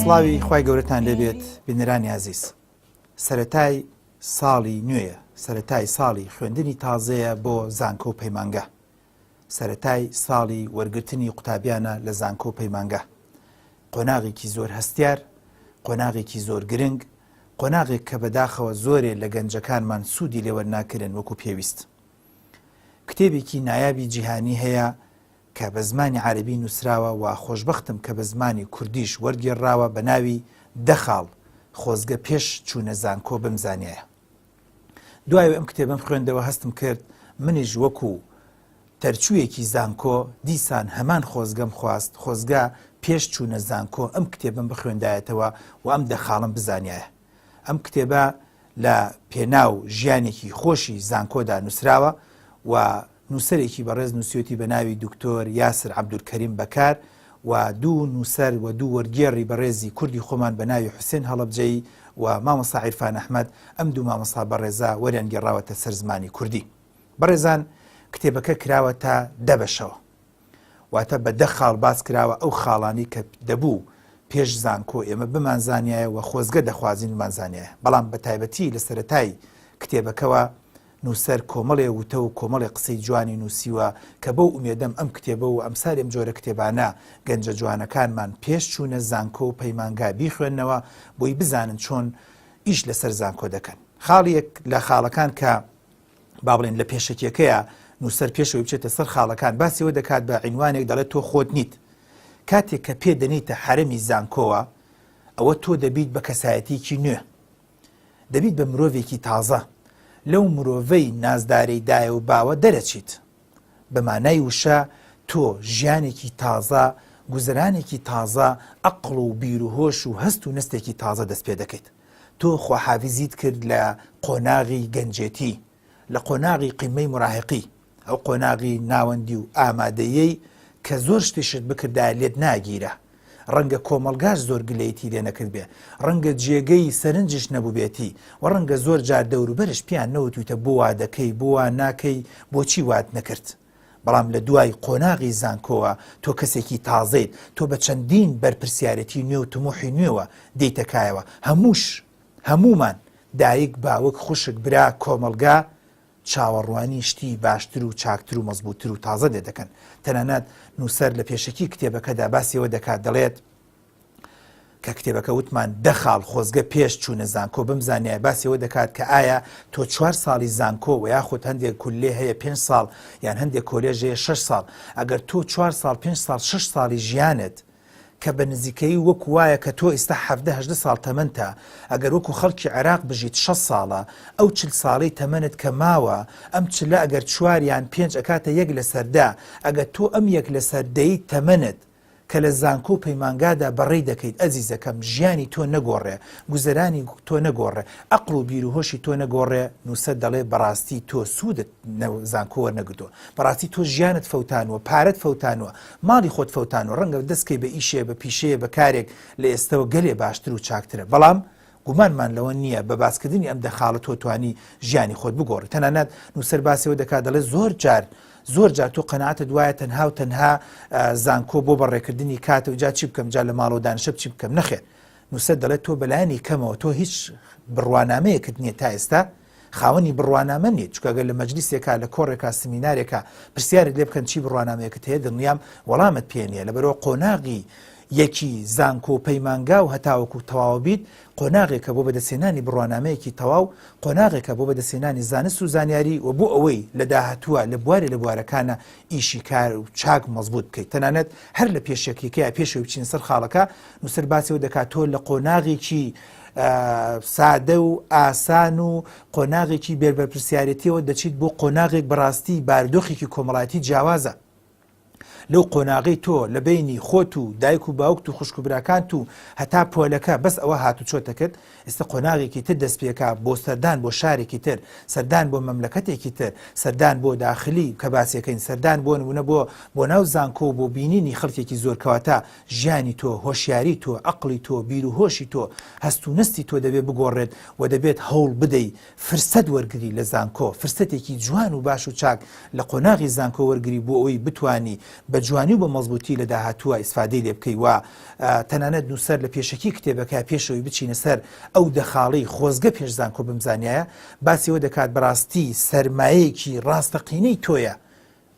سڵاوی خوای گەورەتان لێبێت بینەرانی ئازیز سەتای ساڵی نوێیە سەتای ساڵی خوێندنی تازەیە بۆ زانکۆ و پەیمانگە سەتای ساڵی وەرگرتنی قوتابیانە لە زانکۆ و پەیمانگە قۆناغێکی زۆر هەستیار قۆناغێکی زۆر گرنگ قۆناغێک کە بەداخەوە زۆرێ لە گەنجەکانمان سوودی لێوەرناکردن وەکو پێویست کتێبێکی نایابی جیهانی هەیە کە بە زمانی عەرەبی نووسراوە و خۆشبەختم کە بە زمانی کوردیش وەرگێڕراوە بە ناوی دە خاڵ خۆزگە پێش چوونە زانکۆ بمزانیایە دوای ئەم کتێبم خوێندەوە هەستم کرد منیش وەکو تەرچوویەکی زانکۆ دیسان هەمان خۆزگەم خواست خۆزگە پێش چوونە زانکۆ ئەم کتێبم بخوێندایەتەوە و ئەم دەخاڵم بزانایە ئەم کتێبە لە پێناو ژیانێکی خۆشی زانکۆدا نووسراوە و نووسەرێکی بەڕێز نووسەتی بە ناوی دکتۆر یاسر عبدولکەریم بەکار و دوو نووسەر و دوو وەرگێڕی بەڕێزی کوردی خۆمان بە ناوی حوسێن هەڵبجەی و مامۆستا عیرفان ئەحمد ئەم دوو مامۆستا بەڕێزا وەریان گێڕاوەتە سەر زمانی کوردی بەڕێزان کتێبەکە کراوە تا دەبەشەوە واتە بە دە خاڵ باس کراوە ئەو خاڵانی کە دەبوو پێش زانکۆ ئێمە بمانزانایە و خۆزگە دەخوازین بمانزانایە بەڵام بە تایبەتی لە سەتای کتێبەکەوە نووسەر کۆمەڵێ وتە و کۆمەڵێ قسەی جوانی نووسیوە کە بەو ئومێدەم ئەم کتێبە و ئەم سارێم جۆرە کتێبانە گەنجە جوانەکانمان پێش چوونە زانکۆ و پەیمانگا بیخوێندنەوە بۆی بزانن چۆن ئیش لەسەر زانکۆ دەکەن خاڵیەک لە خاڵەکان کە با بڵێن لە پێشەکیەکەیە نووسەر پێشەوەی بچێتە سەر خاڵەکان باسیەوە دەکات بە عینوانێک دەڵێت تۆ خۆت نیت کاتێک کە پێ دەنیتە حرەمی زانکۆوە ئەوە تۆ دەبیت بە کەسایەتێکی نوێ دەبیت بە مرۆڤێکی تازە لەو مرۆڤەی نازدارەی دایە و باوە دەرەچیت بە مانای وشە تۆ ژیانێکی تازە گوزرانێکی تازە ئەقل و بیرروهۆش و هەست و نستێکی تازە دەست پێ دەکەیت تۆ خواحافیزیت کرد لە قۆناغی گەنجێتی، لە قۆناغی قمەی مراهقی، ئەو قۆناغی ناوەندی و ئامادەیەی کە زۆر شتی شت بکردایە لێت ناگیرا، ڕەنگە کۆمەڵگاش زۆر گلەیتی لێ نەکردبێ، ڕەنگە جێگەی سەرنجیشت نەبووبێتی و ڕەنگە زۆر جار دەوروبەرش پێیان نەوتوویتە بۆ وا دەکەی، بۆ وا ناکەی، بۆچی وات نەکرد؟ بەڵام لە دوای قۆناغی زانکۆوە تۆ کەسێکی تازەیت، تۆ بە چەندین بەرپرسیارێتی نوێ و تموحی نوێوە دێیتە کایەوە، هەمووش، هەموومان، دایک، باوک، خوشک، برا، کۆمەڵگا، چاوەڕوانی شتی باشتر و چاکتر و مەزبووتر و تازە لێدەکەن، تەنانەت نووسەر لە پێشەکی کتێبەکەدا باسی ئەوە دەکات دەڵێت، کە کتێبەکە وتمان دە خاڵ خۆزگە پێش چوونە زانکۆ بم زانیای باسیەوە دەکات کە ئایا تۆ چوار ساڵی زانکۆ و یاخود هەندێک کولێ هەیە پێ ساڵ یان هەندێک کۆلێژەیە 6 ساڵ ئەگەر تۆ چوار ساڵ پێ ساڵ 6 ساڵی ژیانت کە بە نزیکەی وەک وایە کە تۆ ئێستا هەهدە ساڵ تەمەنتە ئەگەر وەکو خەڵکی عێراق بژیت 6 ساڵە ئەو چل ساڵی تەمەنت کە ماوە ئەم چلە ئەگەر چواریان پێنج ئەکاتە یەک لە سەردا ئەگەر تۆ ئەم یەک لە سەردەی تەمەنت کە لە زانکۆ و پەیمانگادا بەڕێی دەکەیت ئەزیزەکەم ژیانی تۆ نەگۆڕێ گوزەرانی تۆ نەگۆڕێ ئەقڵ و بیر و هۆشی تۆ نەگۆڕێ نووسەر دەڵێ بەڕاستی تۆ سوودت زانکۆ وەرنەگرتووە بەڕاستی تۆ ژیانت فەوتانوە پارەت فەوتانوە ماڵی خۆت فەوتانوە ڕەنگە دەستکەی بە ئیشێ بە پیشەیە بە کارێک لە ئێستەوە گەلێ باشتر و چاکترە بەڵام گومانمان لەوە نییە بە باسکردنی ئەم دەخاڵە تۆ توانی ژیانی خۆت بگۆڕی تەنانەت نووسەر باسیەوە دەکات دەڵێ زۆر جار زۆر جار تۆ قەنەعاتە دوایە تەنها و تەنها زانکۆ بۆ بەڕێکردنی کاتە و جا چی بکەم جا لە ماڵەوە دانشە چی بکەم نەخێت نووسەر دەڵێت تۆ بەلایانی کەمەوە تۆ هیچ بڕوانامەیەکت نییە تا ئێستا خاوەنی بڕوانامە نیت چونکە گەر لە مەجلیسێکا لە کۆڕێکا سمینارێکا پرسیارت لێ بکەن چی بڕوانامەیەکت هەیە دڵنیام وەڵامت پێ نییە لەبەرەوە قۆناغی یەکی زانکۆ و پەیمانگا و هەتاوەکو تەواوە بیت قۆناغێکە بۆ بەدەستێنانی بڕوانامەیەکی تەواو قۆناغێکە بۆ بەدەستێنانی زانست و زانیاری و بۆ ئەوەی لە داهاتووە لە بوارێ لە بوارەکانە ئیشی کار و چاک مەزبوط بکەیت تەنانەت هەر لە پێشەکیکەیە پێشەوەی بچین سەر خاڵەکە نووسەر باسی و دەکات تۆ لە قۆناغێکی سادە و ئاسان و قۆناغێکی بێربەرپسیارەتیەوە دەچیت بۆ قۆناغێک بەڕاستی بارودۆخێکی کۆمەڵایەتی جیاوازە لەو قۆناغی تۆ لە بینی خۆت و دایک و باوکت و خوشک و براکانت و هەتا پۆلەکە بەس ئەوە هات و چۆتەکرد ئێستا قۆناغێکی تر دەست پێکا بۆ سەردان بۆ شارێکی تر سەردان بۆ مەملەکەتێکی تر سەردان بۆ داخلی کە باسیەکەین سەردان بۆ نمونە بۆ بۆ ناو زانکۆ بۆ بینینی خەڵکێکی زۆرکەواتە ژیانی تۆ، هۆشیاری تۆ، عەقڵی تۆ، بیروهۆشی تۆ، هەست و نەستی تۆ دەبێ بگۆڕێت و دەبێت هەوڵ بدەی فرسەت وەرگری لە زانکۆ، فرسەتێکی جوان و باش و چاک لە قۆناغی زانکۆ وەرگری بۆ ئەوەی بتوانی بە جوانی و بە مەزبووتی لە داهاتووا ئیسفادەی لێ بکەی و تەنانەت نووسەر لە پێشەکی کتێبەکە پێش ئەوەی بچینە سەر ئەو دە خاڵەی خۆزگە پێش زانکۆ بمزانیایە باسی ئەوە دەکات بەڕاستی سەرمایەیەکی ڕاستەقینەی تۆیە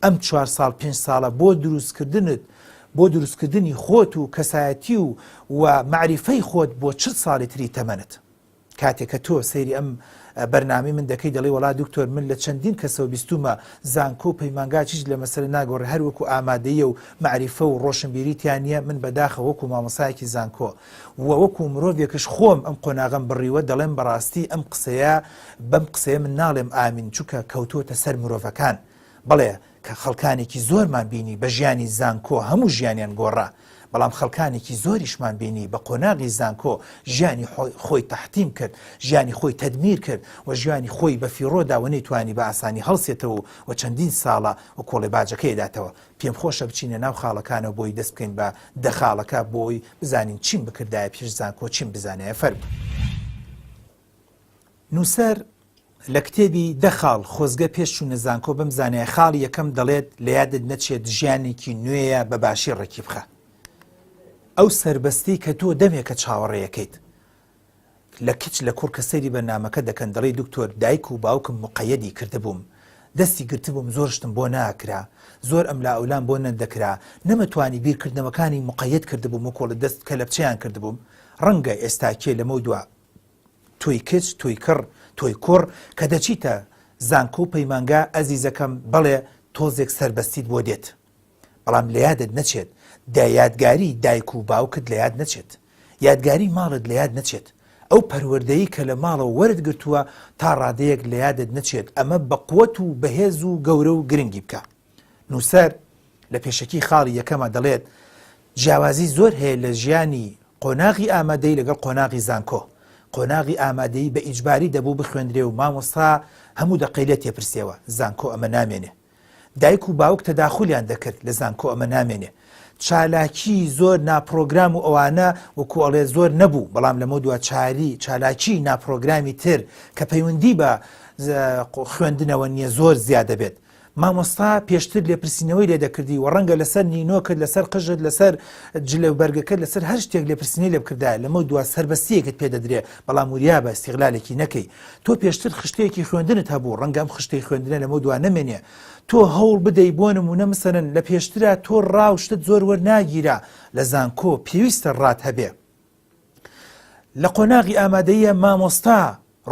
ئەم چوار ساڵ پێنج ساڵە بۆ دروستکردنت بۆ دروستکردنی خۆت و کەسایەتی و و مەعریفەی خۆت بۆ چل ساڵی تری تەمەنت کاتێک کە تۆ سەیری ئەم بەرنامەی من دەکەی دەڵی وڵا دکتۆر من لە چەندین کەسەوە بیستومە زانکۆ و پەیمانگا چیچ لە مەسەر ناگۆڕ هەر وەکو ئامادەیە و معریفە و ڕۆشنبیریتیان نییە من بەداخە وەکو مامۆسایەکی زانکۆ و وەکو مرۆڤێکش خۆم ئەم قۆناغم بڕیوە دەڵێم بەڕاستی ئەم قسەیە بەم قسەیە من ناڵێم ئامین چووکە کەوتووەتە سەر مرۆڤەکان بەڵێ کە خەڵکانێکی زۆرمان بینی بە ژیانی زانکۆ هەموو ژیانیان گۆڕا بەڵام خەڵکانێکی زۆریشمان بینی بە قۆناغی زانکۆ ژیانی خۆی تەحتیم کرد ژیانی خۆی تەدمیر کرد و ژیانی خۆی بە فیڕۆدا و نەیتوانی بە ئاسانی هەڵسێتەوە و چەندین ساڵە و کۆڵێ باجەکەی داتەوە پێم خۆشە بچینە ناو خاڵەکانەوە بۆی دەست بکەین بە دەخاڵەکە بۆی بزانین چیم بکردایە پێش زانکۆ چیم بزانایە فەرمو. نووسەر لە کتێبی دە خاڵ خۆزگە پێش چوونە زانکۆ بم زانای خاڵی یەکەم دەڵێت لە یادت نەچێت ژیانێکی نوێیە بە باشی ڕێکی بخە ئەو سربەستی کە تۆ دەمێکە چاوەڕێیەکەیت لە کچ لە کوڕ کە سەیری بەرنمەکە دەکەن دەڵی دکتۆر دایک و باوکم مقەیەدی کردبووم دەستی گرتبووم زۆرشتم بۆ ناکرا زۆر ئەم لا ئەولان بۆ نەدەکرا نەمەتوانی بیرکردنەوەکانی مقەت کردبووم و کۆڵە دەست کە لەپچیان کردبووم ڕەنگە ئێستاکێ لەمە دو تۆی کچ تۆی کڕ تۆی کوڕ کە دەچیتە زانکۆ و پەیمانگا ئەزیزەکەم بەڵێ تۆزێک سەربەستیت بۆ دێت بەڵام لە یادت نەچێت دە یادگاری دایک و باوکت لە یاد نەچێت یادگاری ماڵت لە یاد نەچێت ئەو پەروەردەی کە لە ماڵەوە وەرت گرتووە تا ڕادەیەک لە یادت نەچێت ئەمە بەقوەت و بەهێز و گەورە و گرنگی بکە نووسەر لە پێشەکی خاڵی یەکەما دەڵێت، جیاوازی زۆر هەیە لە ژیانی قۆناغی ئامادەیی لەگەڵ قۆناغی زانکۆ. قۆناغی ئامادەیی بە ئیجباری دەبوو بخوێندرێ و مامۆستا هەموو دەقەی لێ تێپرسێوە، زانکۆ ئەمە نامێنێ. دایک و باوک تەداخولیان دەکرد، لە زانکۆ ئەمە نامێنێ. چالاکیی زۆر ناپڕۆگرام و ئەوانە وەکوو ئەڵێ زۆر نەبوو، بەڵام لەمەو دوا چالی چالاکیی ناپڕۆگرامی تر کە پەیوەندیی بە خوێندنەوە نییە زۆر زیا دەبێت. مامۆستا پێشتر لێپرسینەوەی لێ دەکردی و ڕەنگە لەسەر نینۆکت لەسەر قژت لەسەر جلە و بەرگەکەت لەسەر هەر شتێک لێپرسینەی لێ بکردایە لەمەو دوا سەربەستیەکت پێ دەدرێ بەڵام وریابە ئیستیغلالێکی نەکەی تۆ پێشتر خشتەیەکی خوێندنت هەبوو ڕەنگە ئەم خشتەی خوێندنە لەمەو دوا نەمێنێ تۆ هەوڵ بدەی بۆ نموونە مسەرەن لە پێشترا تۆ ڕا و شتت زۆر وەرناگیرا لە زانکۆ پێویستە ڕات هەبێ لە قۆناغی ئامادەییە مامۆستا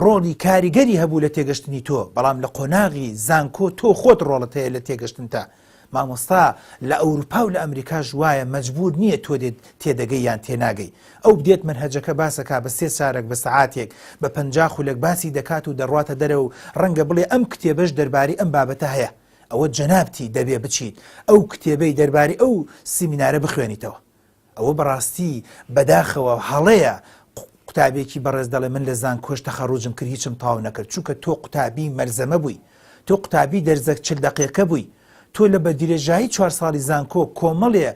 ڕۆڵی کاریگەری هەبوو لە تێگەشتنی تۆ بەڵام لە قۆناغی زانکۆ تۆ خۆت ڕۆڵت هەیە لە تێگەشتنتە مامۆستا لە ئەوروپا و لە ئەمریکاش وایە مەجبور نییە تۆ دێت تێدەگەی یان تێناگەی ئەو بدێت منهجەکە باسەکە بە سێ چارەک بە سەعاتێک بە پەنجا خولەک باسی دەکات و دەڕواتە دەرەوە و ڕەنگە بڵێ ئەم کتێبەش دەربارەی ئەم بابەتە هەیە ئەوە جەنابتی دەبێ بچیت ئەو کتێبەی دەربارەی ئەو سیمینارە بخوێنیتەوە ئەوە بەڕاستی بەداخەوە هەڵەیە قوتابێکی بەڕێز دەڵێ من لە زانکۆش تەخەڕوجم کرد هیچم تاو نەکرد چونکە تۆ قوتابی مەلزەمە بووی تۆ قوتابی دەرزەک چل دەقێکە بووی تۆ لە بە درێژایی چوار ساڵی زانکۆ کۆمەڵێ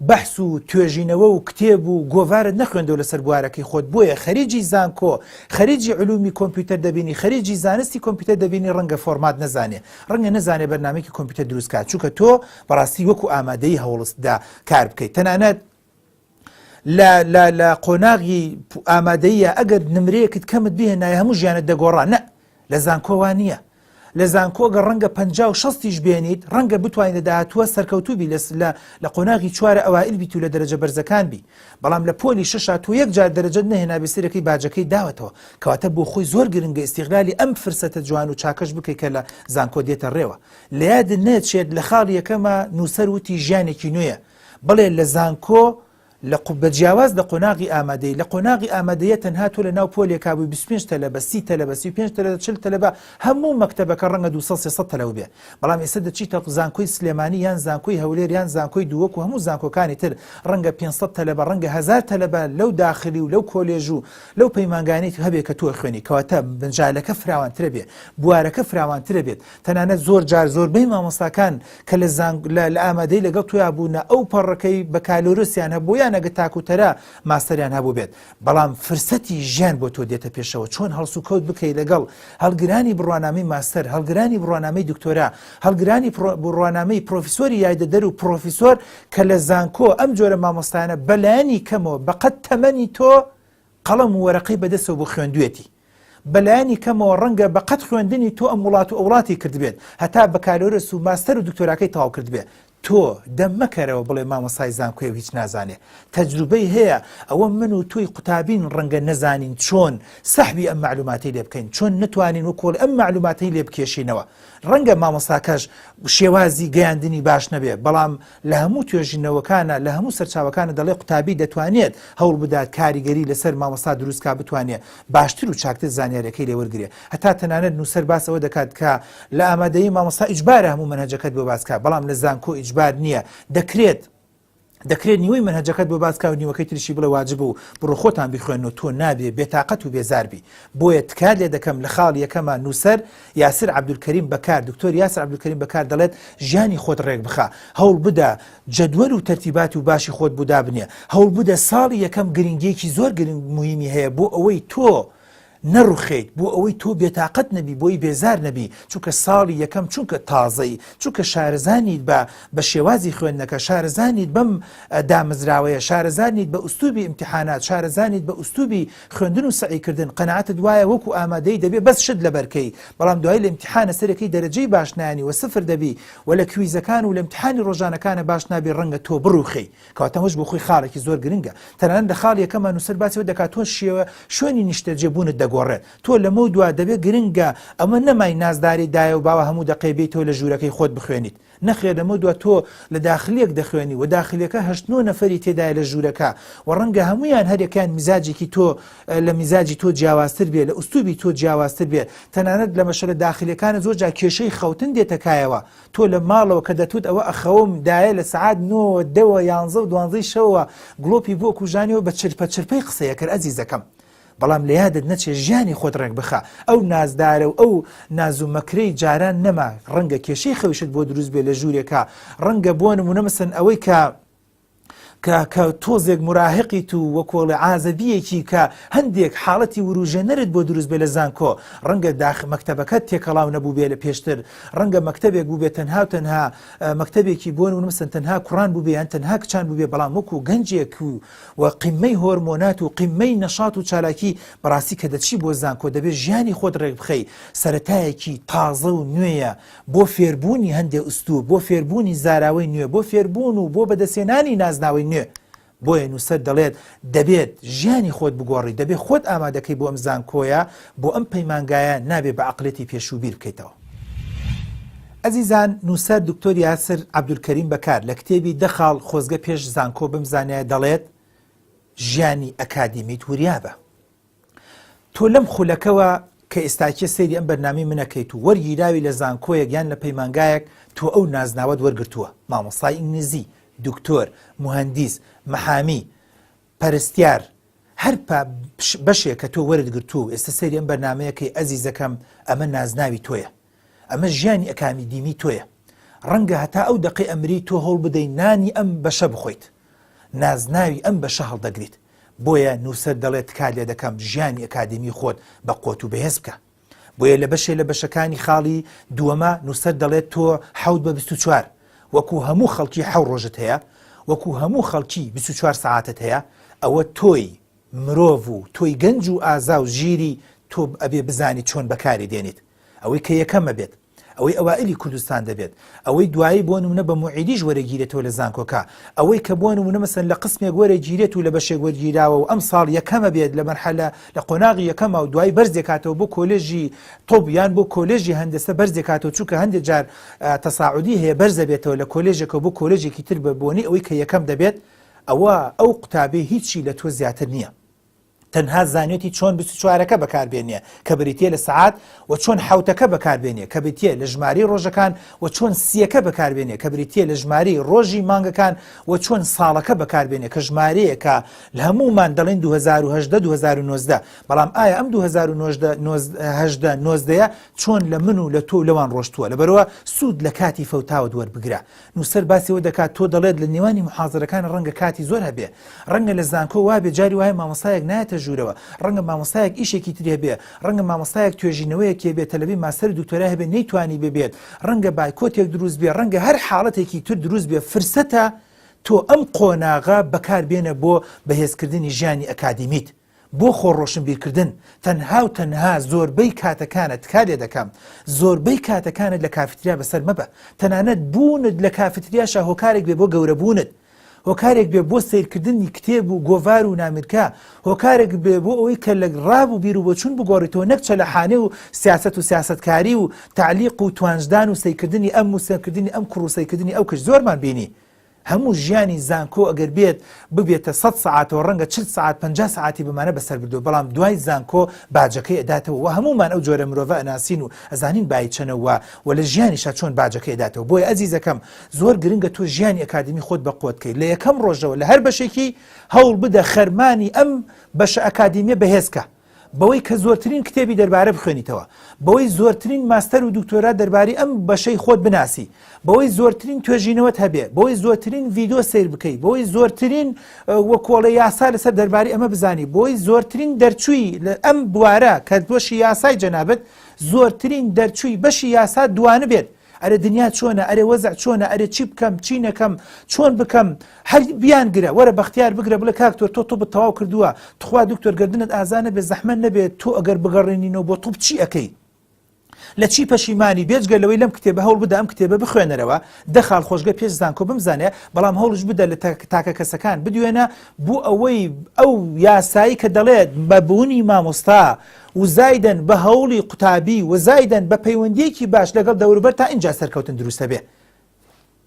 بەحس و توێژینەوە و کتێب و گۆڤارت نەخوێندەوە لەسەر بوارەکەی خۆت بۆیە خەریجی زانکۆ خەریجی علومی کۆمپیوتەر دەبینی خەریجی زانستی کۆمپیوتەر دەبینی ڕەنگە فۆرمات نەزانێ ڕەنگە نەزانێ بەرنمێکی کۆمپیوتەر دروستکات چونکە تۆ بەڕاستی وەکو ئامادەی هەوڵستدا کار بکەیت تەنانەت لە لە لە قۆناغی ئامادەیە ئەگەر نمرەیەکت کەمت بێ نای هەموو ژیانت دەگۆڕا نە لە زانکۆوان نییە لە زانکۆگە ڕەنگە پ شستیش بێنیت ڕەنگە بتوانین لە داهاتوە سەرکەوتوبی لە لە لە قۆناغی چوارە ئەوائل بیت و لە دەرەجە بەرزەکان بی بەڵام لە پۆلی شش تو یەک جار دەرەجەت نەهێنا بسیرەکەی باجەکەی داوەتەوە کەواتە بۆ خۆی زۆر گرنگە ئیسیغلالی ئەم فرسەتە جوان و چاکەش بکەیت کە لە زانکۆ دێتە ڕێوە لە یادت نەچێت لە خاڵی یەکەما نووسەر وتی ژیانێکی نوێیە، بەڵێ لە زانکۆ لە قو بە جیاواز لە قۆناغی ئامادەیی، لە قۆناغی ئامادەییە تەنها تۆ لە ناو پۆلێکا بووی بیست و پێنج تەلەبە، سی تەلەبە، سی و پێنج تەلەبە، چل تەلەبە، هەموو مەکتەبەکە ڕەنگە دوو سەد سێ سەد تەلەبە بێ، بەڵام ئێستا دەچیتە زانکۆی سلێمانی یان زانکۆی هەولێر یان زانکۆی دوو وەکو هەموو زانکۆکانی تر ڕەنگە پێنج سەد تەلەبە ڕەنگە هەزار تەلەبە لەو داخلی و لەو کۆلێژ و لەو پەیمانگانەی هەبێ کە تۆ ئەخوێنی کەواتە مجالەکە فراوانترە بێ بوارەکە فراوانترە بێت تەنانەت زۆر جار زۆربەی مامۆستاکان کە لە زانگ لە لە ئامادەی لەگەڵ تویا بوونە ئەو پەڕەکەی بە کالۆرسیان هەبوو یان ئەگە تاکوتەرا ماستەریان هەبوو بێت بەڵام فرسەتی ژیان بۆ تۆ دێتە پێشەوە چۆن هەڵسو کەوت بکەی لەگەڵ هەڵگرانی بڕوانامی ماستەر هەڵگرانی بڕوانامەی دکتۆرا هەڵگرانی پڕۆ- بڕوانامەی پرۆفیسۆری یایدەدەر و پرۆفیسۆر کە لە زانکۆ ئەم جۆرە مامۆستایانە بەلایەنی کەمەوە بەقەد تەمەنی تۆ قەڵەم و وەرەقەی بەدەستەوە بوو خوێندویەتی. بە لایەنی کەمەوە ڕەنگە بە قەد خوێندنی تۆ ئەم وڵات و ئەوڵاتی کردبێت هەتا بەکالۆرس و ماستەر و دکتۆراکەی تەواو کردبێ. تۆ دەم مەکەرەوە بڵێ مامۆستای زانکۆیە و هیچ نازانێ. تەجروبەی هەیە، ئەوە من و تۆی قوتابین ڕەنگە نەزانین چۆن سەحبی ئەم مەعلوماتەی لێ بکەین، چۆن نەتوانین وەک کۆڵ ئەم مەعلوماتەی لێ بکێشینەوە. ڕەنگە مامۆستاکەش شێوازی گەیاندنی باش نەبێ، بەڵام لە هەموو توێژینەوەکانا لە هەموو سەرچاوەکانا دەڵێ قوتابی دەتوانێت هەوڵ بدات کاریگەری لەسەر مامۆستا دروست کا بتوانێت باشتر و چاکتر زانیارەکەی لێ وەرگرێ هەتا تەنانەت نووسەر باس ئەوە دەکات کە لە ئامادەیی مامۆستا ئیجبارە هەموو مەنهەجەکەت بۆ باس کا بەڵام لە زانکۆ ئیجبار نییە دەکرێت دەکرێت نیوەی منهجەکەت بۆ باز کاو نیوەکەی تریشی بڵێ واجب و بڕۆ خۆتان بخوێن و تۆ نابێ بێتاقەت و بێزاربی بۆیە تکات لێ دەکەم لە خاڵ یەکەمە نووسەر یاسر عەبدولکەریم بەکار، دکتۆر یاسر عەبدولکەریم بەکار دەڵێت، ژیانی خۆت ڕێکبخە، هەوڵبدە جەدوەل و تەرتیباتی و باشی خۆت بۆ دابنێ، هەوڵبدە ساڵی یەکەم گرنگیەکی زۆر گرنگ موهیمی هەیە بۆ ئەوەی تۆ نەڕوخێیت، بۆ ئەوەی تۆ بێتاقەت نەبی، بۆی بێزار نەبی، چونکە ساڵی یەکەم چونکە تازەی، چونکە شارەزا نیت بە بە شێوازی خوێندنەکە، شارەزا نیت بەم دامەزراوەیە، شارەزا نیت بە ئوسلوبی ئیمتیحانات، شارەزا نیت بە ئوسلوبی خوێندن و سەعی کردن قەناعەتت وایە وەکو ئامادەی دەبێ بەس شت لەبەرکەی بەڵام دوای لە امتحانە سەرەکی دەرەجەی باش نانی وە سفر دەبی وە لە کویزەکان و لە امتحانی ڕۆژانەکانە باش نابی ڕەنگە تۆ بڕوخێی کەواتە ئەمەش بۆ خۆی خاڵێکی زۆر گرنگە تەنانەت لە خاڵی یەکەما نوسەر باسی ئەوە دەکات تۆ شێوە شوێنی نیشتەجێ بوونت دەگۆڕێت تۆ لەمەو دوا دەبێ گرنگە ئەمە نەمای نازداری دایە و باوە هەموو دەقەی بێیتەوە لە ژوورەکەی خۆت بخوێنیت نەخێر لەمەو دوا تۆ لە داخلیەک دەخوێنی و داخلیەکە هەشت نۆ نەفەری تێدایە لە ژوورەکە و ڕەنگە هەموویان هەریەکەیان میزاجێکی تۆ لە میزاجی تۆ جیاوازتر بێ لە ئوستوبی تۆ جیاوازتر بێ تەنانەت لە مەشەلە داخلیەکانە زۆر جا کێشەی خەوتن دێتە کایەوە تۆ لە ماڵەوە کە دەتوت ئەوە ئەخەوم دایە لە سەعات نۆ دەوە یانزە و دوانزەی شەوە گڵۆپی بۆ کوژانیەوە بە چرپە چرپەی قسەیەکەر ئەزیزەکەم بەڵام لە یادت نەچێ ژیانی خۆت ڕێک بخە ئەو نازدارە و ئەو نازوو مەکرەی جاران نەما ڕەنگە کێشەی خەوشت بۆ دروست بێ لە ژوورێکە ڕەنگە بۆ نمونە مەسن ئەوەی کە کە کە تۆزێک مراهقی تو وە کۆڵی ئازەدیەکی کە هەندێک حاڵەتی وروژێنەرت بۆ دروست بێ لە زانکۆ ڕەنگە داخ مەکتتەبەکە تێکەڵاو نەبوو بێ لە پێشتر ڕەنگە مەکتتەبێک بوو بێ تەنها و تەنها مەکتتەبێکی بۆن ونمسن تەنها کوڕان بووبیان تەنها کچان بووبێ بەڵام وەکو گەنجێک و و قیممەی هۆرمۆنات و قیممەی نەشات و چالاکی بەڕاستی کە دەچی بۆ زانکۆ دەبێ ژیانی خۆت ڕێکبخەی سەرەتایەکی تازە و نوێیە بۆ فێربوونی هەندێ ئوستوب بۆ فێربوونی زاراوەی نوێ بۆ فێربوون و بۆ بەدەسێنانی نازناوەی نوێ بۆیە نووسەر دەڵێت دەبێت ژیانی خۆت بگۆڕی دەبێ خۆت ئامادەکەی بۆ ئەم زانکۆیە بۆ ئەم پەیمانگایە نابێ بە عەقڵیەتی پێشوو بیر بکەیتەوە. ئەزیزان نووسەر دکتۆر یاسر عەبدولکەریم بەکار لە کتێبی دە خاڵ خۆزگە پێش زانکۆ بمزانیایە دەڵێت، ژیانی ئەکادیمیت وریا بە. تۆ لەم خولەکەوە کە ئێستاکیە سەیری ئەم بەرنامی منەکەیت و وەرگیراوی لە زانکۆیەک یان لە پەیمانگایەک تۆ ئەو نازناوەت وەرگتووە مامۆسای ئینگلیزی، دکتۆر، مهندیس، محامی، پەرستیار، هەر پا بەشێ کە تۆ وەرت گرتوو و ئێستە سەیری ئەم بەرنامەیە کەی ئەزیزەکەم ئەمە نازناوی تۆیە. ئەمە ژیانی ئەکامیدیمی تۆیە. ڕەنگە هەتا ئەو دەقەی ئەمری تۆ هەوڵ بدەی نانی ئەم بەشە بخۆیت. نازناوی ئەم بەشە هەڵدەگریت. بۆیە نووسەر دەڵێ تکات لێ دەکەم ژیانی ئەکادیمی خۆت بە قۆت و بەهێز بکە. بۆیە لە بەشێ لە بەشەکانی خاڵی دووەما نووسەر دەڵێت تۆ حەوت بە بیست و چوار وەکو هەموو خەڵکی حەو ڕۆژت هەیە، وەکو هەموو خەڵکی بیست و چوار سەعاتت هەیە، ئەوە تۆی مرۆڤ و تۆی گەنج و ئازا و ژیری تۆ ئەبێ بزانیت چۆن بەکاری دێنیت، ئەوەی کە یەکەمە بێت. ئەوەی ئەوائیلی کوردستان دەبێت، ئەوەی دوایی بۆ نمونە بە موعیدیش وەرەگیرێتەوە لە زانکۆکە، ئەوەی کە بۆ نمونە مەسەلەن لە قسمێک وەرەگیرێت و لە بەشێک وەرگیراوە و ئەمساڵ یەکەمە بێت لە مەرحەلە لە قۆناغی یەکەمە و دوایی بەرز دەکاتەوە بۆ کۆلێژی طوب یان بۆ کۆلێژی هەندەسە بەرز دەکاتەوە چونکە هەندێک جار تەساعودی هەیە بەرز دەبێتەوە لە کۆلێژێکەوە بۆ کۆلێژێکی تر بە بۆنەی ئەوەی کە یەکەم دەبێت ئەوە ئەو قوتابیە هیچی لە تۆ زیاتر نییە. تەنها زانیوتی چۆن بیست و چوارەکە بەکاربێنێ کە بریتییە لە سەعات و چۆن حەوتەکە بەکاربێنێ کە بریتییە لە ژمارەی ڕۆژەکان و چۆن سییەکە بەکاربێنێ کە بریتییە لە ژمارەی ڕۆژی مانگەکان و چۆن ساڵەکە بەکاربێنێ کە ژمارەیەکە لە هەموومان دەڵێن 2010 2019 بەڵام ئایا ئەم 2019 نۆزدەیە چۆن لە من و لە تۆ لەوان ڕۆشتووە لەبەرەوە سوود لە کاتی فەوتاوت وەربگرە نووسەر باسی ئەوە دەکات تۆ دەڵێت لە نێوانی محازەرەکان ڕەنگە کاتی زۆر هەبێ ڕەنگە لە زانکۆ وابێ جاری وایە مامۆستایەک نایەتە ژوورەوە ڕەنگە مامۆستایەک ئیشێکی تری هەبێ ڕەنگە مامۆستایەک توێژینەوەیەک هەبێ تەلەبی ماستەر و دوکتۆرای هەبێ نەیتوانی ببێت ڕەنگە بایکۆتێک دروست بێ ڕەنگە هەر حاڵەتێکی تر دروست بێ فرسەتە تۆ ئەم قۆناغە بەکاربێنە بۆ بەهێزکردنی ژیانی ئەکادیمیت بۆ خۆ ڕۆشنبیرکردن تەنها و تەنها زۆربەی کاتەکانت تکا لێ دەکەم زۆربەی کاتەکانت لە کافیتریا بەسەر مەبە تەنانەت بوونت لە کافیتریاشە هۆکارێک بێ بۆ گەورەبوونت هۆکارێک بێ بۆ سیرکردنی کتێب و گۆڤار و نامیرکە هۆکارێک بێ بۆ ئەوەی کە لە ڕاب و بیر و بۆچون بگۆڕیتەوە نەک چەلەحانێ و سیاست و سیاستکاری و تعلیق و توانجدان و سیکردنی ئەم و سێکردنی ئەم کوڕوسیکردنی ئەو کچ زۆرمان بینی هەموو ژیانی زانکۆ ئەگەر بێت ببێتە سەد سەعاتەوە ڕەنگە چل سەعات پەنجا سەعاتی بەمانە بەسەر بردبێ بەڵام دوای زانکۆ باجەکەی ئەداتەوە وە هەموومان ئەو جۆرە مرۆڤە ئەناسین و ئەزانین بایی چەنە وە وە لە ژیانیشا چۆن باجەکەی ئەداتەوە بۆیە ئەزیزەکەم زۆر گرنگە تۆ ژیانی ئەکادیمی خۆت بە قوت کەی لە یەکەم ڕۆژەوە لە هەر بەشێکی هەوڵ بدە خەرمانی ئەم بەشە ئەکادیمیە بەهێز کە. بەوەی کە زۆرترین کتێبی دەربارە بخوێنیتەوە، بەوەی زۆرترین ماستەر و دکتۆرا دەرباری ئەم بەشەی خۆت بناسی، بەوەی زۆرترین توێژینەوەت هەبێ، بەوەی زۆرترین ڤیدۆ سەیر بکەی، بەوەی زۆرترین وە کۆڵێ یاسا لەسەر دەرباری ئەمە بزانی، بەوەی زۆرترین دەرچووی لە ئەم بوارە کە بەشی یاسای جەنابت زۆرترین دەرچووی بەشی یاسا دوانبێت، ئەرێ دنیا چۆنە ئەرێ وەزع چۆنە ئەرێ چی بکەم چی نەکەم چۆن بکەم هەر بیان گرە وەرە بەختیار بگرە بڵێ کاکتۆر تۆ تۆ بتەواو کردووە تخوا دکتۆر گردنت ئازانە بێ زەحمە نەبێت تۆ ئەگەر بگەڕێنینەوە بۆ توپ چی ئەەکەی لە چی پەشیمانی بێجگە لەوەی لەم کتێبە هەوڵ بدا ئەم کتێبە بخوێنەرەوە دەخال خۆشگە پێش زانکۆ بمزانێ بەڵام هەوڵش بدە لە تاکە کەسەکان بدوێنە بۆ ئەوەی ئەو یاسایی کە دەڵێت بە بوونی مامۆستا و زایدەن بە هەوڵی قوتابی و زایدەن بە پەیوەندیەکی باش لەگەڵ دەوروبەر تا ئینجا سەرکەوتن دروست دەبێ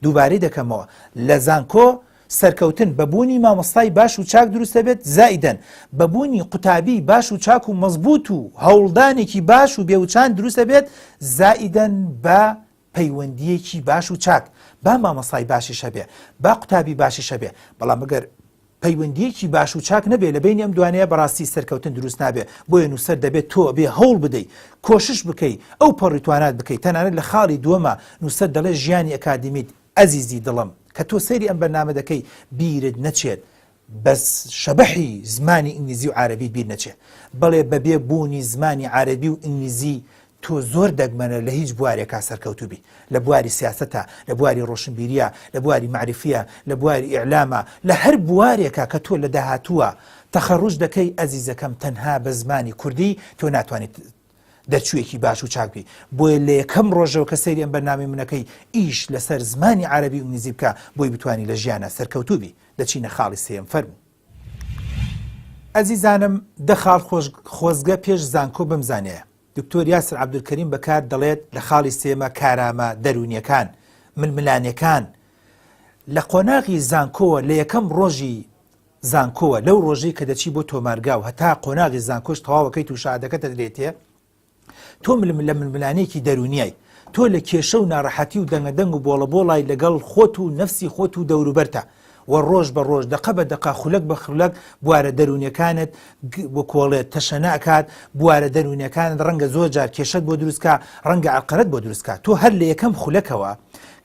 دووبارەی دەکەمەوە لە زانکۆ سەرکەوتن بە بوونی مامۆستای باش و چاک دروست دەبێت زایدەن بە بوونی قوتابی باش و چاک و مەزبوط و هەوڵدانێکی باش و بێوچان دروست دەبێت زایدەن بە پەیوەندیەکی باش و چاک با مامۆستای باشیش هەبێ با قوتابی باشیش هەبێ بەڵام ئەگەر پەیوەندیەکی باش و چاک نەبێ لە بینی ئەم دوانەیە بەڕاستی سەرکەوتن دروست نابێ بۆیە نووسەر دەبێت تۆ بێ هەوڵ بدەی کۆشش بکەی ئەو پەڕیتوانات بکەیت تەنانەت لە خاڵی دووەمە نووسەر دەڵێ ژیانی ئەکادیمیت ئەزیزی دڵم کە تۆ سەیری ئەم بەرنامە دەکەی بیرت نەچێت بەس شەبەحی زمانی ئینگلیزی و عارەبیت بیر نەچێ بەڵێ بەبێ بوونی زمانی عارەبی و ئینگلیزی تۆ زۆر دەگمەنە لە هیچ بوارێکا سەرکەوتوو بیت لە بواری سیاسەتا لە بواری ڕۆشنبیریە لە بواری مەعریفیە لە بواری ئیعلامە لە هەر بوارێکا کە تۆ لە داهاتووە تەخەڕوج دەکەی ئەزیزەکەم تەنها بە زمانی کوردی تۆ ناتوانیت دەرچوویەکی باش و چاک بی بۆیە لە یەکەم ڕۆژەوە کە سەیری ئەم بەرنامەی منەکەی ئیش لەسەر زمانی عەرەبی و ئینگلیزی بکە بۆی بتانی لە ژیانا سەرکەوتوو بی دەچینە خاڵی سێیەم فەرموو. ئەزیزانم دە خاڵ خۆزگە پێش زانکۆ بمزانێ دکتۆر یاسر عەبدولکەریم بەکار دەڵێت لە خاڵی سێمە کارامە دەروونیەکان ململانێکان لە قۆناغی زانکۆوە لە یەکەم ڕۆژی زانکۆوە لەو ڕۆژەی کە دەچی بۆ تۆمارگا و هەتا قۆناغی زانکۆش تەواوەکەیت و شەهادەکەتە درێتێ تۆ ململە ململانێکی دەرونیای تۆ لە کێشە و ناڕەحەتی و دەنگە دەنگ و بۆڵە بۆڵای لەگەڵ خۆت و نەفسی خۆت و دەوروبەرتا و ڕۆژ بە ڕۆژ دەقە بە دەقە خولەک بە خولەک بوارە دەروونەکانت بۆ کۆڵێت تەشەنا ئەکات بوارە دەروونەکانت ڕەنگە زۆر جار کێشت بۆ دروستکە ڕەنگە ئەقرەت بۆ دروستکە تۆ هەر لە یەکەم خولەکەوە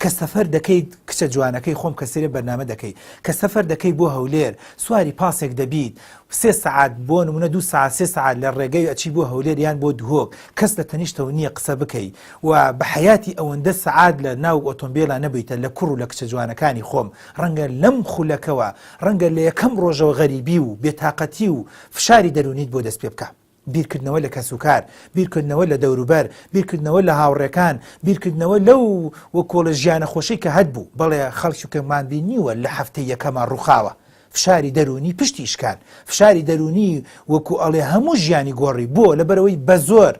کە سەفەر دەکەیت کچە جوانەکەی خۆم کە سەیرێ بەرنامە دەکەی کە سەفەر دەکەی بۆ هەولێر سواری پاسێک دەبیت سێ سەعات بۆ نمونە دوو ساعت سێ ساعت لە ڕێگەی ئەچی بۆ هەولێر یان بۆ دهۆک کەس لە تەنیشتەوە نییە قسە بکەی و بە حیاتی ئەوەندە سەعات لە ناو ئۆتۆمبیلە نەبیتە لە کوڕ و لە کچە جوانەکانی خۆم ڕەنگە لەم خولەکەوە ڕەنگە لە یەکەم ڕۆژەوە غەریبی و بێتاقەتی و فشاری دەرونیت بۆ دەست پێ بکە بیرکردنەوە لە کەسوکار، بیرکردنەوە لە دەوروبەر، بیرکردنەوە لە هاوڕێکان، بیرکردنەوە لەو و کۆڵە ژیانە خۆشەی کە هەتبوو، بەڵێ خەڵکی کە مان بینیوە لە هەفتەی یەکەما ڕوخاوە، فشاری دەروونی پشتی شکان، فشاری دەروونی وەکو ئەڵێ هەموو ژیانی گۆڕی، بۆ؟ لەبەرئەوەی بەزۆر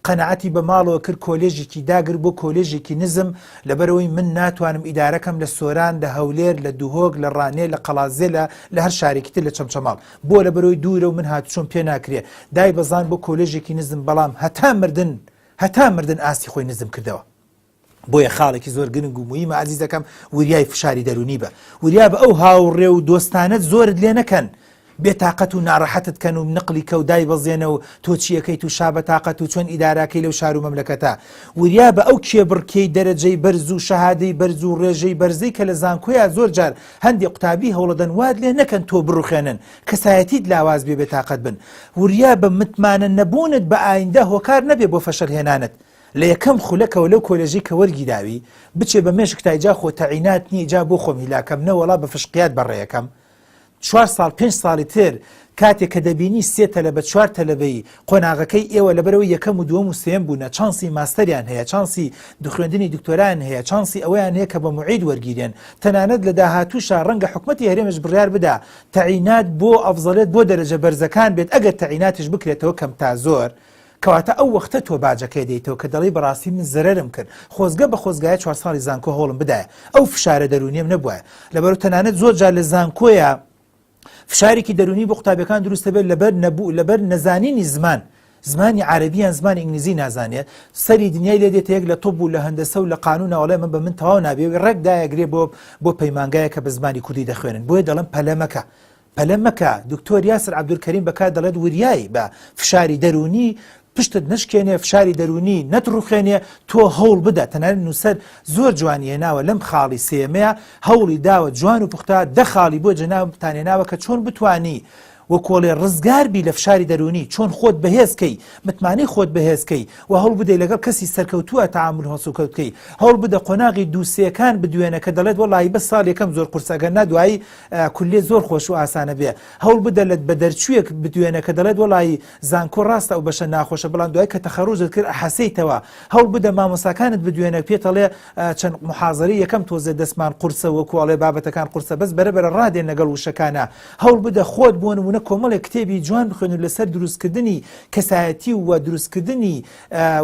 قەناعەتی بە ماڵەوە کرد کۆلێژێکی داگر بۆ کۆلێژێکی نزم، لەبەرئەوەی من ناتوانم ئیدارەکەم لە سۆران، لە هەولێر، لە دهۆک، لە ڕانیە، لە قەڵادزێ لە لە هەر شارێکی تر لە چەمچەماڵ. بۆ لە بەرەوی دوورە و من هاتوچۆم پێ ناکرێ، دای بەزاند بۆ کۆلێژێکی نزم بەڵام هەتا مردن هەتا مردن ئاستی خۆی نزم کردەوە. بۆیە خاڵێکی زۆر گرنگ و مویمە ئازیزەکەم وریای فشاری دەرونی بە، وریا بە ئەو هاوڕێ و دۆستانەت زۆرت لێ نەکەن بێ تاقەت و نارەحەتت کەن و نقلی کەو دای بەزێنە و تۆ چی ئەکەیت و شا بە تاقەت و چۆن ئیداراکەی لەو شار و مەملەکەتە. وریا بە ئەو کێبڕکێی دەرەجەی بەرز و شەهادەی بەرز و ڕێژەی بەرزەی کە لە زانکۆیا زۆر جار هەندێ قوتابی هەوڵەدەن وات لێ نەکەن تۆ بڕوخێنن، کەسایەتیت لاواز بێ بێتاقەت بن. وریا بە متمانە نەبوونت بە ئایندە هۆکار نەبێ بۆ فەشەل هێنانت. لە یەکەم خولەکەوە لەو کۆلێژەی کە وەرگیراوی، بچێ بە مێشک تای جا خۆ تەعینات نییە جا بۆ خۆم هیلاکەم نەوەڵا بە فشقیات بە ڕێ یەکەم چوار ساڵ پێنج ساڵی تر کاتێ کە دەبینی سێ تەلەبە چوار تەلەبەی قۆناغەکەی ئێوە لەبەرئەوەی یەکەم و دووەم و سێیەم بوونە چانسی ماستەریان هەیە چانسی دخوێندنی دکتۆرایان هەیە چانسی ئەوەیان هەیە کە بە موعید وەرگیرێن تەنانەت لە داهاتووشا ڕەنگە حکومەتی هەرێمش بڕیار بدا تەعینات بۆ ئەفزەلێت بۆ دەرەجە بەرزەکان بێت ئەگەر تەعیناتیش بکرێتەوە کەم تا زۆر کەواتە ئەو وەختە تۆ باجەکەی دەیتەوە کە دەڵی بەڕاستی من زەرەرم کرد خۆزگە بە خۆزگایە چوار ساڵی زانکۆ هەوڵم بدایە ئەو فشارە دەرونیم نەبوایە لەبەرو تەنانەت زۆر جار لە زانکۆیە فشارێکی دەروونی بۆ قوتابیەکان دروست دەبێت لەبەر نەبوو لەبەر نەزانینی زمان زمانی عربیان زمانی ئینگلیزی نازانێت سەری دنیای لێ دێتە یەک لە تۆپ و لە هەندەسە و لە قانون ئەوڵێ من بە من تەواو نابێوی ڕێک دایەگرێ بۆ بۆ پەیمانگایە کە بە زمانی کوردی دەخوێنن بۆیە دەڵم پەلەمەکە پەلەمەکە دکتۆر یاسر عبدولکەریم بەکات دەڵێت وریایی بە فشاری دەرونی پشتت نەشکێنێ فشاری دەروونی نەتڕوخێنێ تۆ هەوڵ بدە تەنانەت نووسەر زۆر جوانی هێناوە لەم خاڵی سێیەمەیا هەوڵی داوە جوان و پوختە دە خاڵی بۆ جەنابتان هێناوە کە چۆن بتوانی وە کۆڵێ ڕزگار بی لە فشاری دەروونی چۆن خۆت بەهێز کەی متمانەی خۆت بەهێز کەی و هەوڵ بدەی لەگەڵ کەسی سەرکەوتووە تەعامول هەڵسوکەوت کەی هەوڵ بدە قۆناغی دوو سێکان بدوێنە کە دەڵێت وەڵایی بەس ساڵ یەکەم زۆر قورسە ئەگەر نا دوایی کولێ زۆر خۆش و ئاسانە بێ هەوڵ بدە لە بە دەرچوویەک بدوێنە کە دەڵێت وەڵایی زانکۆ ڕاستە ئەو بەشە ناخۆشە بەڵام دوای کە تەخەڕوجت کرد ئەحەسێیتەوە هەوڵ بدە مامۆستاکانت بدوێنە پێتەڵێ چەند محازری یەکەم تۆزێ دەستمان قورسە وەکو ئەڵێ بابەتەکان قورسە بەس بەرە بەرە ڕادێن لەگەڵ وشەکانا هەوڵ بدە خۆت بۆ نمونە کۆمەڵێک کتێبی جوان بخوێن و لەسەر دروستکردنی کەسایەتی و دروستکردنی